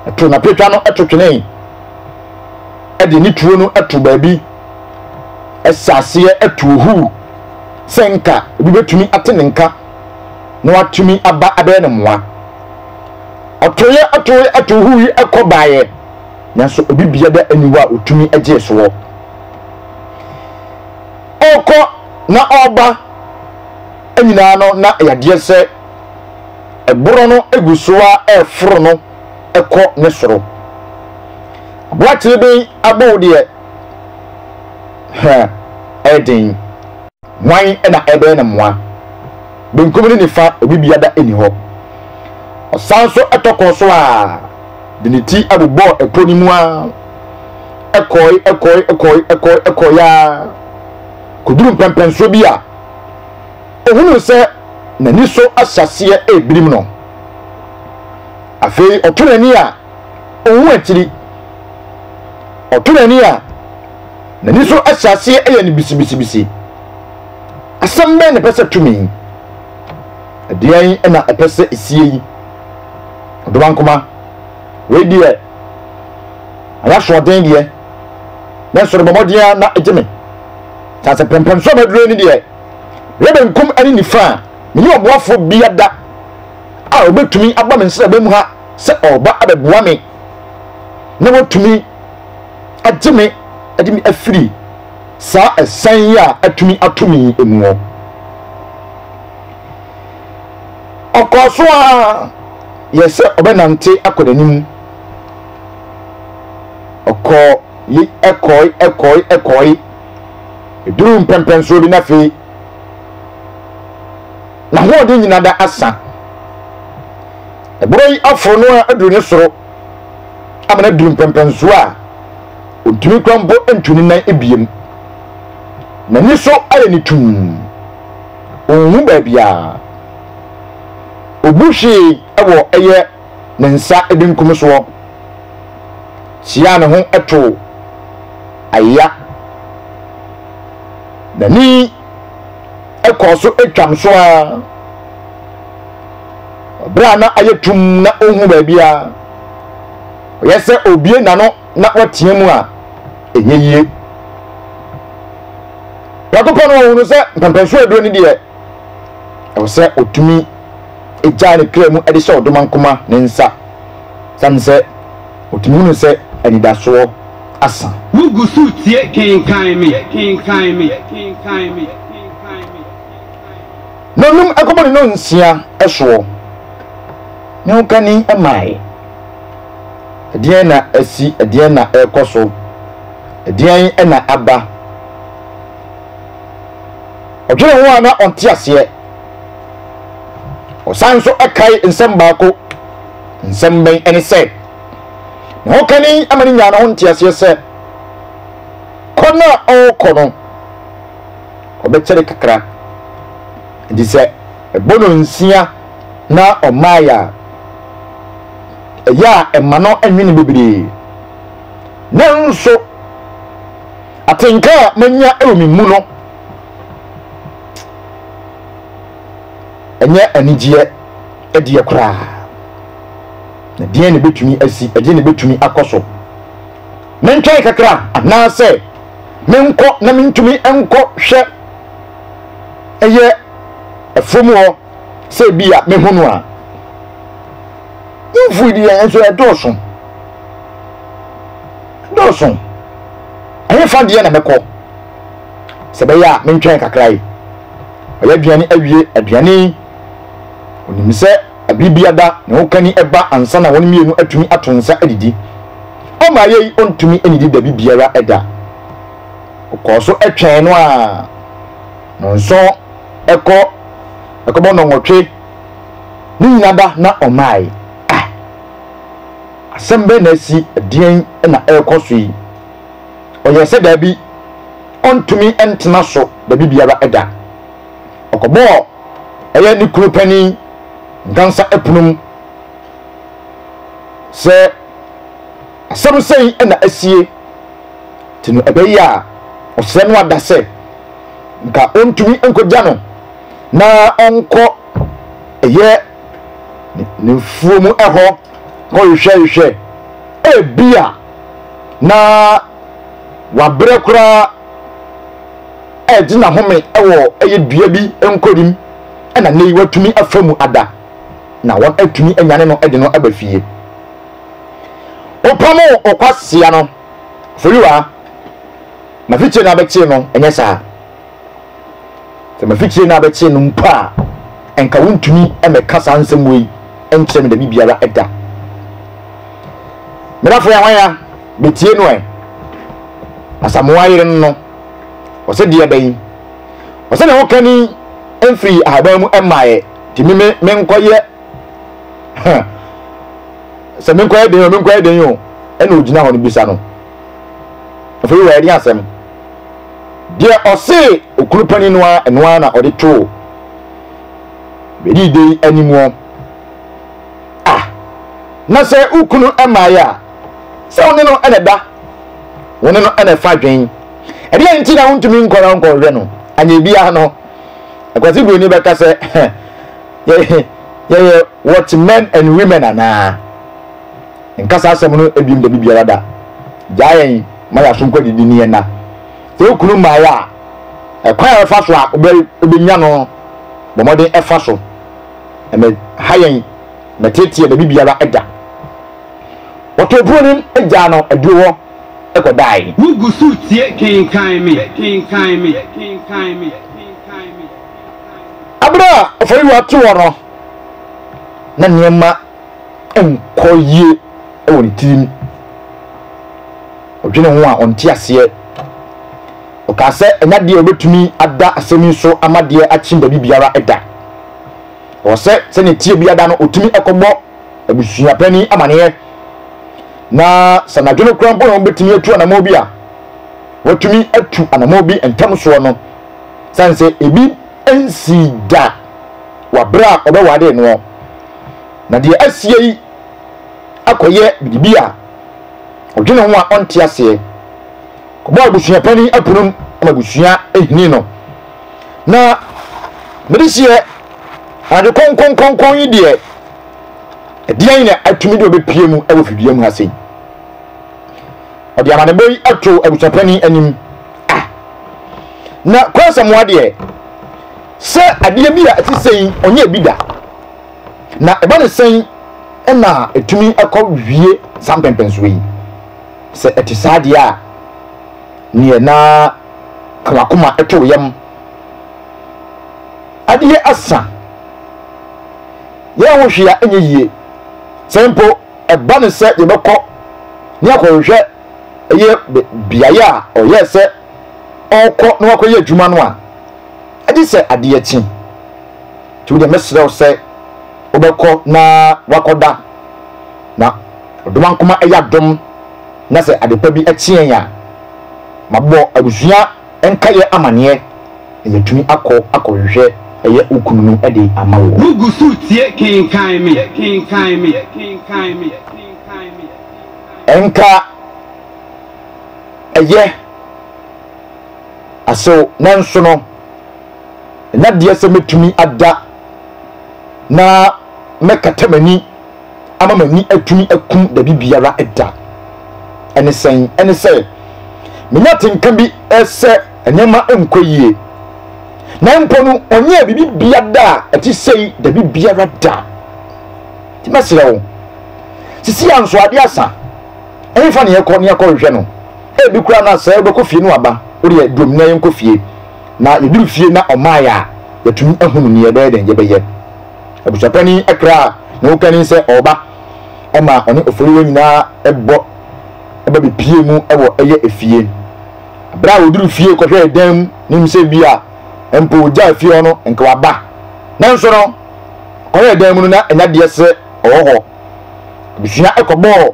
Ɛtoo n'apɛtwa no ɛto twenee. de ne tuo no to baabi hyɛ aseɛ tu ohuu sɛ nka obi bɛtumi ate ne nka na watumi aba abɛyɛ ne mmoa ɔtoeɛ atoe ato ohuu yi ɛkɔ baeɛ nanso obi bia da aniwa a ɔtumi gyee soɔ ɔkɔ na ɔba nyinaa no na yadeɛ sɛ ɛborɔ no egu so a ɛforo no ɛkɔ ne soro W'atere be abɔ wo deɛ hɛ ɛyɛ den. Hwan na ɛbɛyɛ no mmoa? Benkum ne nifa obi biada nni hɔ. Ɔsan nso tɔ kɔɔ so a de ne ti bobɔɔ ɛpo no mu ara. Ɛkɔɔe, ɛkɔɔe, ɛkɔɔe, ɛkɔɔe, ɛkɔɔe ara kɔduru mpɛnpɛnsoɔ bi a ɔhunuu sɛ n'ani so ahyɛ aseɛ rebirim no. Afei ɔto n'ani a. ohu akyiri. Ɔto n'ani a, n'ani so ahyɛ aseɛ yɛ no bisibisibisi. Asɛm bɛn na ɛpɛ sɛ tumi? Ɛdeɛn na ɛpɛ sɛ ɛsie yi? Ɔdoma nkoma, wei deɛ ayɛ asoɔden deɛ, nanso rebɔ mmɔden ara na ɛgye me. Kyɛ sɛ pɛmpɛm so a maduro ni deɛ, meyɛ benkum ne nifa a, menni ɔboafoɔ biada a ɔbɛtumi aba me nsraban mu ha. sɛ ɔreba abɛboa me na watumi agye me de me afiri saa ɛsɛn yi a atumi ato me yi mu hɔ. Ɔkɔɔ so ara yɛɛ sɛ ɔbɛnante akɔ n'anim. Ɔkɔɔ yi ɛkɔe ɛkɔe ɛkɔe eduruu mpɛmpɛnsoɔ bi na afei n'ahoɔden nyinaa da asa. Borɔ yi aforo no ara aduru ne soro ama no aduru mpɛmpɛnsoɔ a ɔntumi kora mpo ntu ne nan biam. N'ani so ayɛ no tumm. Ɔnhu baabiara. Ɔbu hwee wɔ ɛyɛ ne nsa benkum soɔ. Siaa ne ho to ayea. N'ani kɔɔ so twam so ara. Bere a na ayɛ tum na onhu baabiara, ɔyɛ sɛ obie n'ano na wateɛ mu a, ɛnyɛ yie. Prɛko pɛ no ɔhunu sɛ mpɛmpɛnsoɔ aduro no deɛ, ɛwɔ sɛ ɔtumi gyaa ne kra mu de hyɛ ɔdomankoma ne nsa, sane sɛ ɔtumi hunu sɛ anidasoɔ asa. Wogu so tie
Kenkan Me!
na ɔnum ɛkɔbɔ ne nonsia ɛsoɔ, ne ho kani ɛmae. Ɛdeɛn na asi, ɛdeɛn na ɛrekɔ so, ɛdeɛn na aba? Ɔdwene ho a na ɔnte aseɛ. Ɔsan nso ɛkae nsɛm baako, nsɛm bɛn ɛne sɛ, ne ho kani ama ne nyaa ne ho nteaseɛ sɛ, kɔ no a ɔrekɔ no, ɔbɛkyɛre kakra. Enti sɛ ɛbɔ no nsia na ɔmaeɛ a, ɛyɛ a ɛma no nwene bebree. Nanso, atenka a manya wɔ me mu no, ɛnyɛ anigyeɛ ɛdeɛ koraa. Na deɛn na ɛbɛtumi asi, ɛdeɛn na ɛbɛtumi akɔ so? mentwɛn kakra anaasɛ menkɔ na mentumi nkɔ hwɛ ɛyɛ ɛfam hɔ sɛ bi a mehu no a mfui di yɛn nso ɛdɔɔso ɛdɔɔso ɛyɛ fa deɛ na mɛkɔ sɛ bɛyɛ a mentwɛn kakra yi ɔyɛ aduane awie aduane onim sɛ Bere biara ne ho kani ba ansa na wɔn mmienu atumi ato nsa adidi. Ɔmaa yei ɔntumi nnidi dabi biara da. Ɔkɔɔ so twɛn no ara. Nnɔnson kɔ, ɛkɔbɔ nnɔnwɔtwe, ne nyina da na ɔmmae. Ah! Asɛm bɛn na asi? Ɛdeɛn na ɛrekɔ so yi? Ɔyɛɛ sɛ daabi, ɔntumi ntena so dabi biara da. ɔkɔbɔɔ ɛyɛ ne kunu panin dansa ɛpono mu sɛ asɛm sɛn na asie te no ɛbɛyi a ɔsrɛ no ada sɛ nka ɔntumi nkɔgya no na ɔnkɔ ɛyɛ ne mfuo mu ɛhɔ kɔhwehwɛhwehwɛ ebi a na wabrɛ koraa ɛregye n'ahome wɔ ɛyɛ dua bi nkorim na nnɛ yi watumi afa mu ada na wɔn atumi anyane no de no aba fie. Wopamoo Okwasia no, Foriwa, mafikyire na abɛkyee no, ɛnyɛ saa? Sɛ mafikyire na abɛkyee no mpo a, nka wontumi mmɛka saa nsɛm wei nkyerɛ me da bi biara da. Mmerɛfoɔ yɛ hwan ya? metie no ɛ asamoa yere no no ɔsɛ deɛ bɛyi ɔsɛ ne ho kani mfiri ahaban mu mmaeɛ nti me me menkɔyɛ sɛ menkɔyɛ den o menkɔyɛ den o ɛna ogyina hɔ no bisa no afei wɔ ɛde asɛm deɛ ɔse okunu panin no a ɛno ara na ɔde too bɛdi de animuɔ a, na sɛ wo kunu mmaeɛ a, sɛ wo ne no na ɛda, wo ne no na ɛfa dwen. Ɛdeɛ nti na wontumi nkɔra nkɔhwɛ no, anyɛ biara no, Akwasi Buroni bɛka sɛ, yɛyɛ what men and women anaa? Nkasa asɛm no ebiom da biara da. Gyaa yɛn ma yɛaso nkɔ didi ne yɛn na. Sɛ wo kunu mmaeɛ a, ɛkwan a ɛfa so a wobɛnya no, bɔ mmɔden ɛfa so. Ɛmɛ ha yɛn na teteɛ baabi biara da. Wɔtoo kuro no gyaa no aduro hɔ kɔdaeɛ. Wogu so retie
Kenkan Me, Kenkan Me, Kenkan Me, Kenkan
Me. Bere a Oforiwa te hɔ no, na nneɛma nkɔ yie wɔ ne tirim. Ɔdwene ho a, ɔnte aseɛ. Ɔkaa sɛ, Ɛnyɛ adeɛ a wɔbɛtumi ada asɛm yi so ama deɛ akyem baabi biara da. Ɛwɔ sɛ sɛdeɛ ɛteɛ biara da no wɔtumi kɔbɔ abusua panin amaneɛ na sɛ anadwo no koraa mpo na wɔbɛtumi atu anammɔn bi a, wɔatumi atu anammɔn bi ntam soɔ no sane sɛ ebi nsii da wɔ aberɛ a wɔbɛwade noɔ. Na deɛ asie yi akɔyɛ biribi a ɔdwene ho a ɔnte aseɛ. Ɔbɔ abusua panin aponom ma abusua hini no. Na mede seɛ ade kɔnkɔnkɔnkɔn yi deɛ ɛdeɛn na atumi de ɔbɛpie mu wɔ fidua mu ha sei ɔde amanebɔ yi ato abusua panin anim ah na kwansamoa deɛ sɛ adeɛ bi a ɛte sɛn ɔnyɛ ebi da na ɛba ne sɛn ɛna ɛtumi ɛkɔ wie saa mpɛmpɛnsoɔ yi Sɛ ɛte saa deɛ a, neɛ na ka w'akoma to wo yam. Adeɛ asa. Yɛn ho hwee a ɛnyɛ yie. Sɛ mpo ɛba no sɛ yɛbɛkɔ ne akɔhwehwɛ ɛyɛ beaeɛ a ɔyɛɛ sɛ ɔrekɔ na wakɔyɛ adwuma no a, agye sɛ adeɛ kye. Nti wodeɛ mɛsrɛ wo sɛ wobɛkɔ na wakɔda na Odomankoma ɛyɛ adom na sɛ adepa bi ɛkye yɛn a, mabɔ abusua nkaeɛ amaneɛ na yɛatumi akɔ akɔhwehwɛ ɛyɛ wo kunu no de ama wo. Wo gu so retie
Kenkan Me, Kenkan Me, Kenkan
Me, Kenkan Me. Ɛnka ɛyɛ asew nanso no ɛnna deɛ sɛ mɛtumi ada na mɛkata m'ani. ama m'ani atumi aku baabi biara da. Ɛne sɛn? Ɛne sɛ, menya atenka bi sɛ nneɛma nkɔ yie. Na mpo no, ɔnyɛɛ biribi bia da a ɛte sei da bi biara da. Nti mɛsrɛ wo, sisi a nso adeɛ asa, ɛmfa ne yɛkɔ ne yɛkɔhwehwɛ no. Ebi koraa na sɛ wobɛkɔ fie no aba, wodeɛ dom na yɛnkɔ fie. Na yɛduru fie na ɔmaeɛ a, yɛatumi ahunu nea yɛbɛyɛ dɛn yɛbɛyɛ. Abusuapani kra a ne ho kanni sɛ ɔreba ma ɔne oforiwa nyinaa bɔ ba bepiee mu wɔ ɛyɛ efie. Bere a oduru fie kɔhwɛɛ dan mu no nim sɛ bi a mpo ogyaa fie hɔ no nka waba. Nanso no, ɔkɔhwɛɛ dan mu no na ɛnya deɛ sɛ ɔwɔ hɔ. Abusua kɔbɔɔ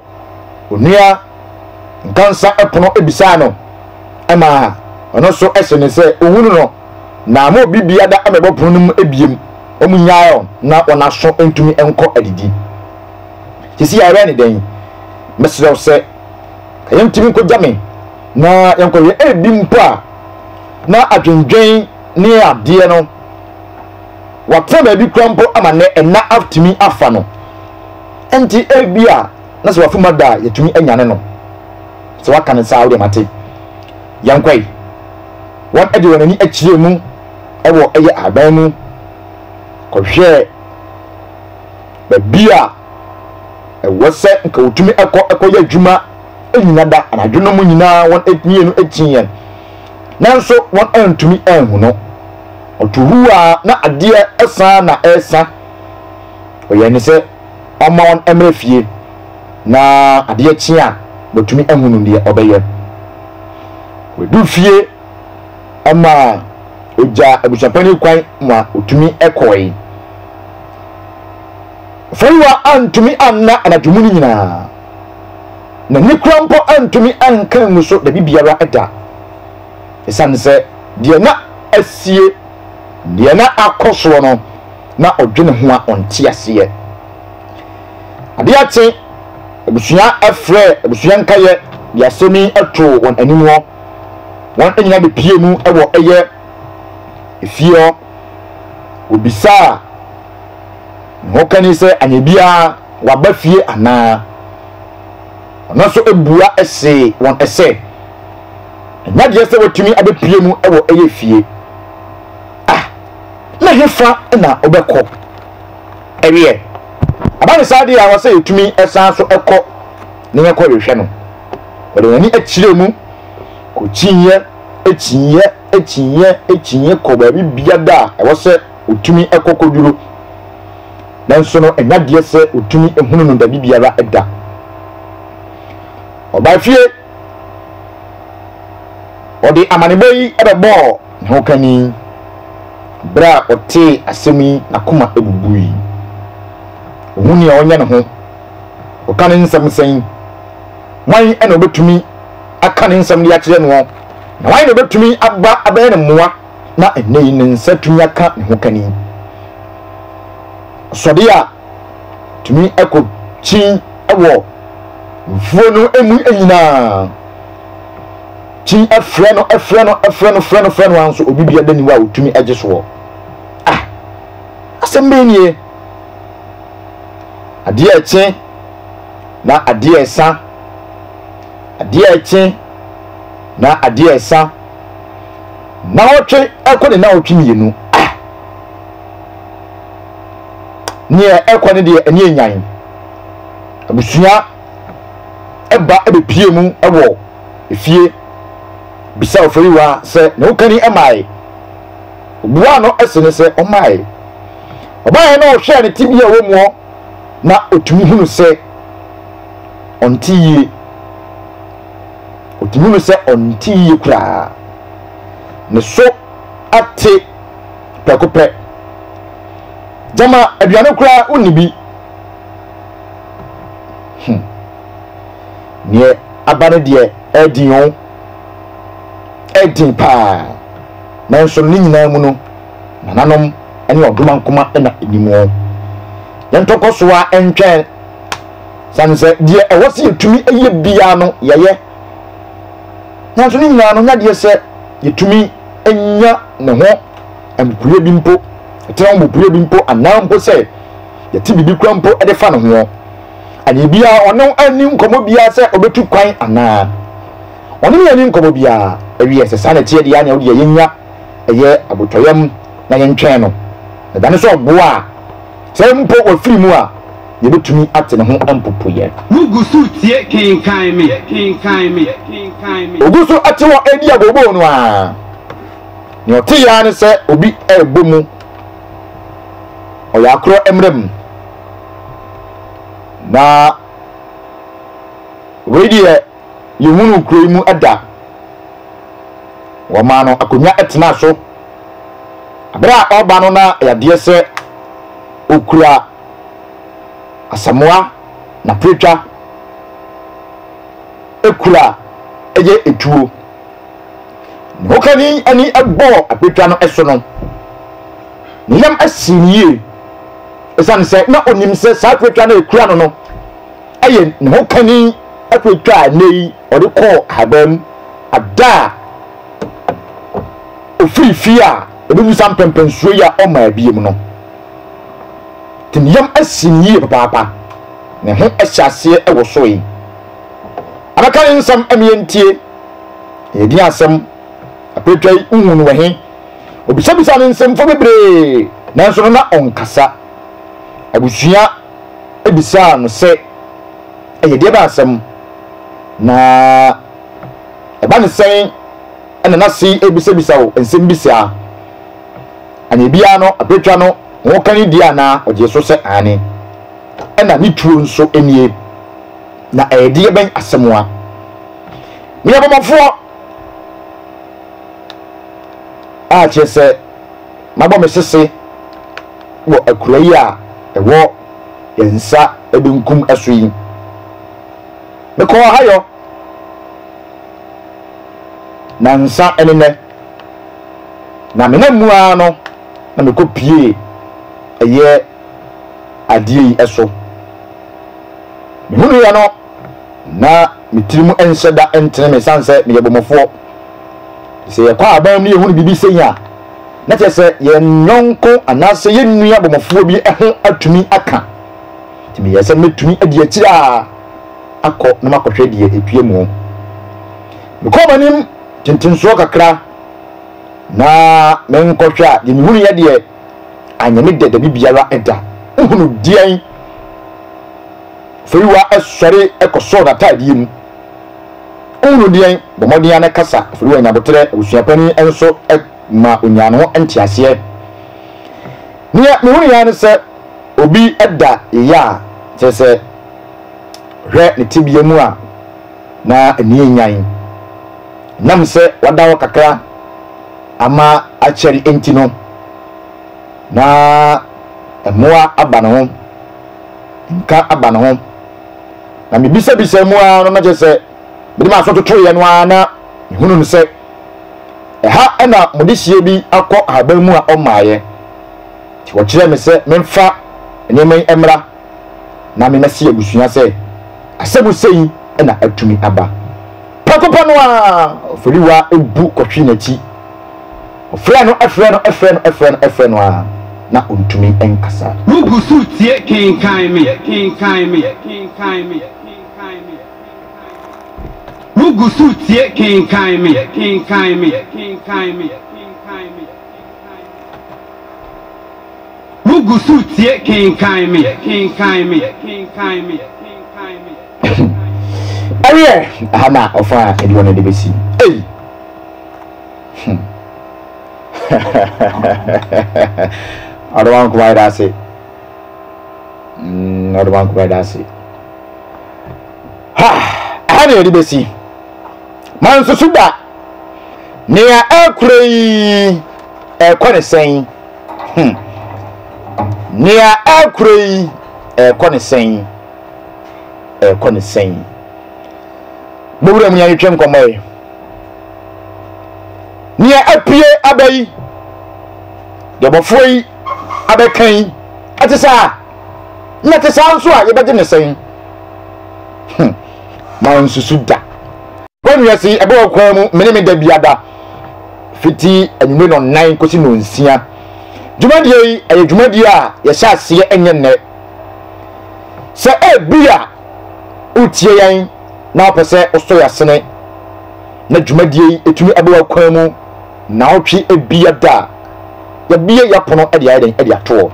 Onua Nkansah pono bisaa no ma ɔno nso senee sɛ onhunu no. na ama obi biada amɛbɔ pono no mu ebiem, ɔmo nyae ɔn na ɔn aso ntumi nkɔ adidi. Sisi yɛayɛ ne dɛn? Mɛsrɛ wo sɛ ka yɛn ntumi nkogya me na yɛn kɔ yɛ ebi mpo a na adwendwen ne adeɛ no watena baabi kura mpo ama nɛ ɛna atumi afa no nti ebi a na sɛ wafi mu ada a yɛtumi anyane no sɛ waka ne saa wo deɛ mate yɛn kɔe. wɔde wɔn ani kyerɛɛ mu wɔ ɛyɛ ahaban mu kɔhwɛɛ baabi a ɛwɔ sɛ nka wɔtumi kɔ kɔyɛ adwuma nnyina da anadwo no mu nyinaa wɔn atie no atie yɛn nanso wɔn antumi anhu no ɔto hu a na adeɛ ɛsan na ɛsa ɔyɛ ne sɛ ɔma wɔn mmerɛ fie na adeɛ kye a, watumi ahunu deɛ ɔbɛyɛ. Ɔbɛduru fie ma ɔgyaa abusuapanin kwan ma ɔtumi kɔe. Fariwa antumi anna anadwo mu no nyinaa. N'ani koraa mpo antumi anka angu so dabi biara da. Ɛsiane sɛ deɛ na asie, deɛ na akɔ soɔ no, na ɔdwene ho a ɔnte aseɛ. Adeɛ kye, abusua frɛ abusua nkaeɛ de asɛm yi too wɔn anim hɔ. Wɔn nyinaa bepie mu wɔ ɛyɛ efie hɔ. Wɔbisaa ne hokani sɛ anyɛ biara waba fie anaa. Ɔno nso bua see wɔn sɛ, ɛnyɛ adeɛ sɛ watumi abɛpie mu wɔ ɛyɛ fie. Ah, na hefa na wobɛkɔ? ɛweɛ. Ɛba no saa deɛ a, ɛwɔ sɛ yɛtumi san so kɔ na yɛkɔ hwehwɛ no. Wɔde wɔn ani kyerɛɛ mu, kɔkyiiɛ, kyiiɛ, kyiiɛ, kyiiɛ kɔɔ baabi biara a ɛwɔ sɛ wɔtumi kɔ kɔduru. Nanso no, ɛnyɛ adeɛ sɛ wɔtumi hunu no baabi biara da. Ɔbaa fie. Ɔde amanebɔ yi bɛbɔɔ ne hokanni. Bere a ɔtee asɛm yi, n'akoma bubui. Ohu nea ɔnyɛ ne ho. Ɔka ne nsɛm sɛn? Hwan na obetumi aka ne nsɛm de akyerɛ noɔ, na hwan na obetumi aba abɛyɛ no mmoa? Na ɛnnɛ yi ne nsa tumi aka ne hokanni. Ɔsɔde a tumi kɔ kyin wɔ mfuo no mu nyinaa. Kyin frɛ no, frɛ no, frɛ no, frɛ no, frɛ no ara nso obi biara ni hɔ a otumi gye soɔ. Ah, asɛm bɛn nie? Adeɛ ɛkye na adeɛ ɛsa. Adeɛ ɛkye na adeɛ ɛsa. Nawɔtwe ɛkɔ ne nawɔtwe mmienu. Neɛ ɛkɔ ne deɛ ɛneɛ nyan Abusua ɛba ɛbɛpie mu ɛwɔ ɛfie Bisa ɔfɛriwa sɛ ne ho kani ɛmae Ɔbuaa no ɛse ne sɛ ɔmae Ɔbaeɛ no ɔhwɛɛ ne tebea ɛwɔ muɔ Na ɔtumi hunu sɛ ɔnte yie Ɔtumi hunu sɛ ɔnte yie koraa Ne so ate prɛko pɛ. Gyama aduane koraa wonni bi. Hmm. Neɛ aba no deɛ ɛden o. Ɛden paa. Nanso no ne nyinaa mu no, nananom ne ɔdomankoma na ɛnim o. Yɛntɔkɔsoa ntwɛn. Sane sɛ deɛ ɛwɔ sɛ yɛtumi yɛ biara no, yɛyɛ. Nanso ne nyinaa no, ɔnyɛ adeɛ sɛ yɛtumi nya ne ho mpopoeɛ bi mpo, yɛtena ho mpopoeɛ bi mpo, anaa mpo sɛ yɛte biribi kura mpo de fa ne ho. Adeɛ biara, ɔne ani nkɔmmɔ biara sɛ ɔbɛtu kwan anaa. Ɔne ne ani nkɔmmɔ biara. Ɛwiɛ, sɛ saa na ɛteɛ deɛ a, nea wodeɛ yɛnya ɛyɛ abotɔyam na yɛntwɛn no. Na dane sɛ ɔboa a. Sɛ mpo wafiri mu a, yebetumi ate ne ho mpopoeɛ. Wugu so tie
Kenkan Me, Kenkan Me. Ogu
so te hɔ redi abooboo no ara. Nea ɔte ara ne sɛ obi rebɔ mu. Ɔyɛ akorɔ mmara mu. Na wei deɛ yɛhunuu kuro yi mu da. Wɔmaa no akonnwa tenaa so. Bere a ɔreba no na yadeɛ sɛ ɔkura asamoa na preatwa kura yɛ etuo. Ne hokani ani bɔɔ preatwa no so no, ne yam sii no yie ɛsiane sɛ na ɔnim sɛ saa preatwa no a ɛkura no no yɛ ne hokani preatwa a nnɛ yi ɔde kɔɔ ahaban mu ada a ofiri fie a obebu saa mpɛmpɛnsoɔ yi a ɔma abiem no te ne yam asi ne yie papaapa ne ho ahyɛ aseɛ wɔ so yi abɛka ne nsɛm ɛmeɛ ntie yɛdin asɛm apɛtwa yi nhu no wɛhe obisabisa ne nsɛmfoɔ bebree nanso no na ɔnkasa abusua ebisaa no sɛ ɛyɛ deɛ bɛ asɛm na Ɛba no sɛn na na Sei rebisabisa wo nsɛm bi saa? Anaa biaa no abatwa no ho ka ne die anaa? Ɔgyee so sɛ aane. Ɛna ne tuo nso nie. Na ɛyɛ deɛ bɛn asɛmoa? Meyɛ bɔmmɔfoɔ a kyerɛ sɛ mabɔ me sese wɔ akura yi a ɛwɔ yɛn nsa benkum so yi. Mekɔɔ Ohio nansa ne nnɛ, na menam mu ara no na mekɔ pie ɛyɛ adeɛ yi so. Mehunuiɛ no na me tiri mu nhyɛ da ntene me ɛsiane sɛ meyɛ bɔmmɔfoɔ. Sɛ yɛkɔ aban mu na yɛhunu biribi sei a, na kyerɛ sɛ yɛn yɔnko anaasɛ yɛn nua bɔmmɔfoɔ bi ho atumi aka. Nti meyɛɛ sɛ mɛtumi adi akyire a. akɔ na makɔhwɛ deɛ ɛpue mu. Mekɔɔ m'anim tentensoɔ kakra na menkɔhwɛ a, deɛ mehunuiɛ deɛ, anyɛ me dɛ dabi biara da. Wohunu deɛn? Oforiwa sɔre kɔsɔɔ n'ataadeɛ mu. Wohunu deɛn? Bɔ mmɔden ara na kasa. Oforiwa anya aboterɛ. Abusua panin nso ma ɔnyaa ne ho nteaseɛ. Deɛ mehunuiɛ ara ne sɛ, obi da yea, kyerɛ sɛ, Hwɛ ne tebea mu a na ani yɛ nyan. Ɛnam sɛ wada hɔ kakra ama akyɛre nti no, na mmoa aba ne ho, nka aba ne ho. Na mebisabisaa mu ara no, na kyerɛ sɛ mede m'aso totoeɛ no ara na mehunu no sɛ ɛha na mode hyeɛ bi akɔ ahaban mu a ɔmmaeɛ. Nti wɔkyerɛɛ me sɛ memfa nneɛma yi mmra. na me mɛse abusua sɛ asɛmhusɛ yi na atumi aba. Prɛko pɛ no ara, Oforiwa bu kɔhwe n'akyi. Ɔfrɛ no, frɛ no, frɛ no, frɛ no, frɛ no ara, na ontumi nkasa. Wugu so tie kenkan me, kenkan
me, kenkan me, kenkan me, kenkan me. Wugu so tie kenkan me, kenkan me, kenkan me, kenkan me, kenkan me. Wugu so tie kenkan
me. Ɛyɛ ɛha na ɔfa aduan no de bɛsi. Ei! Ɔde wɔn nkɔmɔ ayɛ ase. Ɔde wɔn nkɔmɔ ayɛ ase. Ha! Ɛha na yɛde bɛsi. Mansusu da. Nea ɛrekura yi ɛrekɔ ne sɛn? Hmm. Nea ɛrekora yi, ɛrekɔ ne sɛn? Ɛrekɔ ne sɛn? Mowura mu yɛntwetwe nkɔmmɔ yi. Nea apue aba yi, deɛ bɔfoɔ yi abɛka yi, ɛte saa. Na ɛte saa nso a yɛbɛgye ne sɛn? Hmm. Ma nsusu da. Wɔn wiase ɛbɛwɔ kwan mu mene me da biada. fiti anwummerɛ nɔnnan kɔsi nɔnsia. Dwumadie yi ɛyɛ dwumadie a yɛhyɛ aseɛ ɛnyɛ nnɛ. Sɛ ebi a wotie yɛn na wopɛ sɛ wosɔ yɛn asene na dwumadie yi ɛtumi ɛbɛ w'akwan mu na wotwe ebi ada a, yɛbie yɛpono ɛde ayɛ dɛn ɛde atoɔ.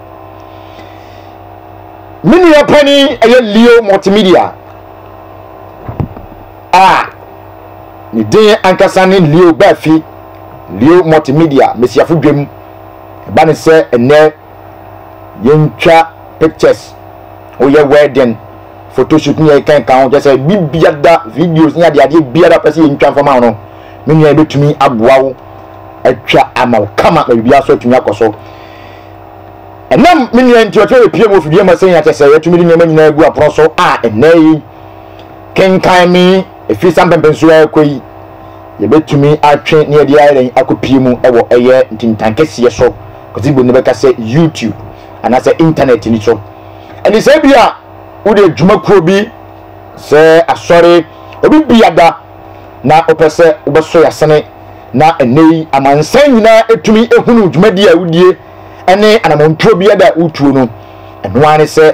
Me nua panin ɛyɛ Leo Multimedia. a ne din ankasa ne Leo Baafi, Leo Multimedia Mmesiafo Dwam. Ɛba ne sɛ ɛnnɛ yɛntwa pictures, woyɛ wedding, photoshoot ne yɛkeka nka ho, kyɛ sɛ biribiara, videos ne adeadeɛ biara pɛ sɛ yɛntwa mfama wo no, me nua yɛbɛtumi aboa wo atwa ama wo kama na biribiara so atumi akɔ so. Ɛnam me nua nti ɔtumi bɛpie mu ofidie ma sɛn akyɛ sɛ yɛtumi de nneɛma nyinaa agu apono so a ɛnnɛ yi Kenkan me, ɛfiri saa mpɛnpɛnsoɔ a ɛrekɔ yi, yɛbɛtumi atwe ne yɛde ayɛ dɛn akɔpie mu wɔ ɛyɛ ntintan kɛseɛ so, Kwasi Bonini bɛka sɛ YouTube anaasɛ intanɛt no so. Ɛnti sɛ bi a wode adwumakuo bi, sɛ asɔre, obi biada na wopɛ sɛ wobɛsɔ yɛasene na ɛnɛ yi amansan nyinaa ɛtumi ɛhunu dwumadie a wodie ɛne anamɔntuo biada a wotuo no, ɛno ara ne sɛ,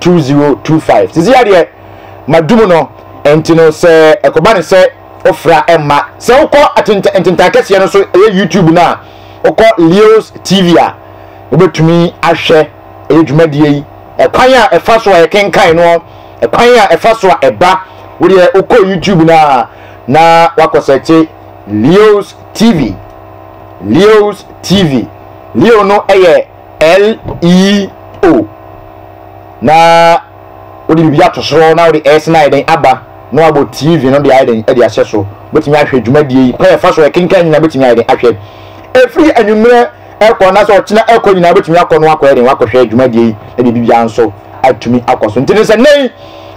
2025 sisi ya deɛ madum no nti no sɛ ɛkɔba ne sɛ wofra ɛmma sɛ wokɔ ntentan kɛseɛ no so ɛyɛ youtube no a wokɔ leos tv a wobɛtumi ahwɛ ɛyɛ dwumadie yi ɛkwan a ɛfa so a ɛkenkan no ɛkwan a ɛfa so a ɛba wodeɛ wokɔ youtube no a na wakɔ sɛ kye leos tv leos tv leo no ɛyɛ LEO, na wode biribi ato soro na wode S no ayɛ dɛn aba na wabɔ TV no de ayɛ dɛn de ahyɛ so. Wobɛtumi ahwɛ dwumadie yi, kwan ɛfa so ɛkenkan nyinaa wobɛtumi ayɛ dɛn ahwɛ. Ɛfiri anwummerɛ ɛkɔ anaasɛ ɔkyena ɛkɔ nyinaa wobɛtumi akɔ no wakɔyɛ dɛn wakɔhwɛ dwumadie yi na biribi biara nso atumi akɔ so. Nti ne sɛ nnɛ yi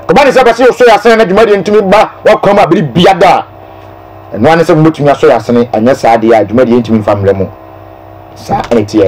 ɔba ne sɛ bɛsɛ ɔsɔ yɛ asene na dwumadie ntumi ba wakwan mu a bere biada a ɛno ane sɛ mobɛtumi asɔ yɛ asene anyɛ saa deɛ a dwumadie ntumi mfa mmerɛ mu. saa ne teɛ.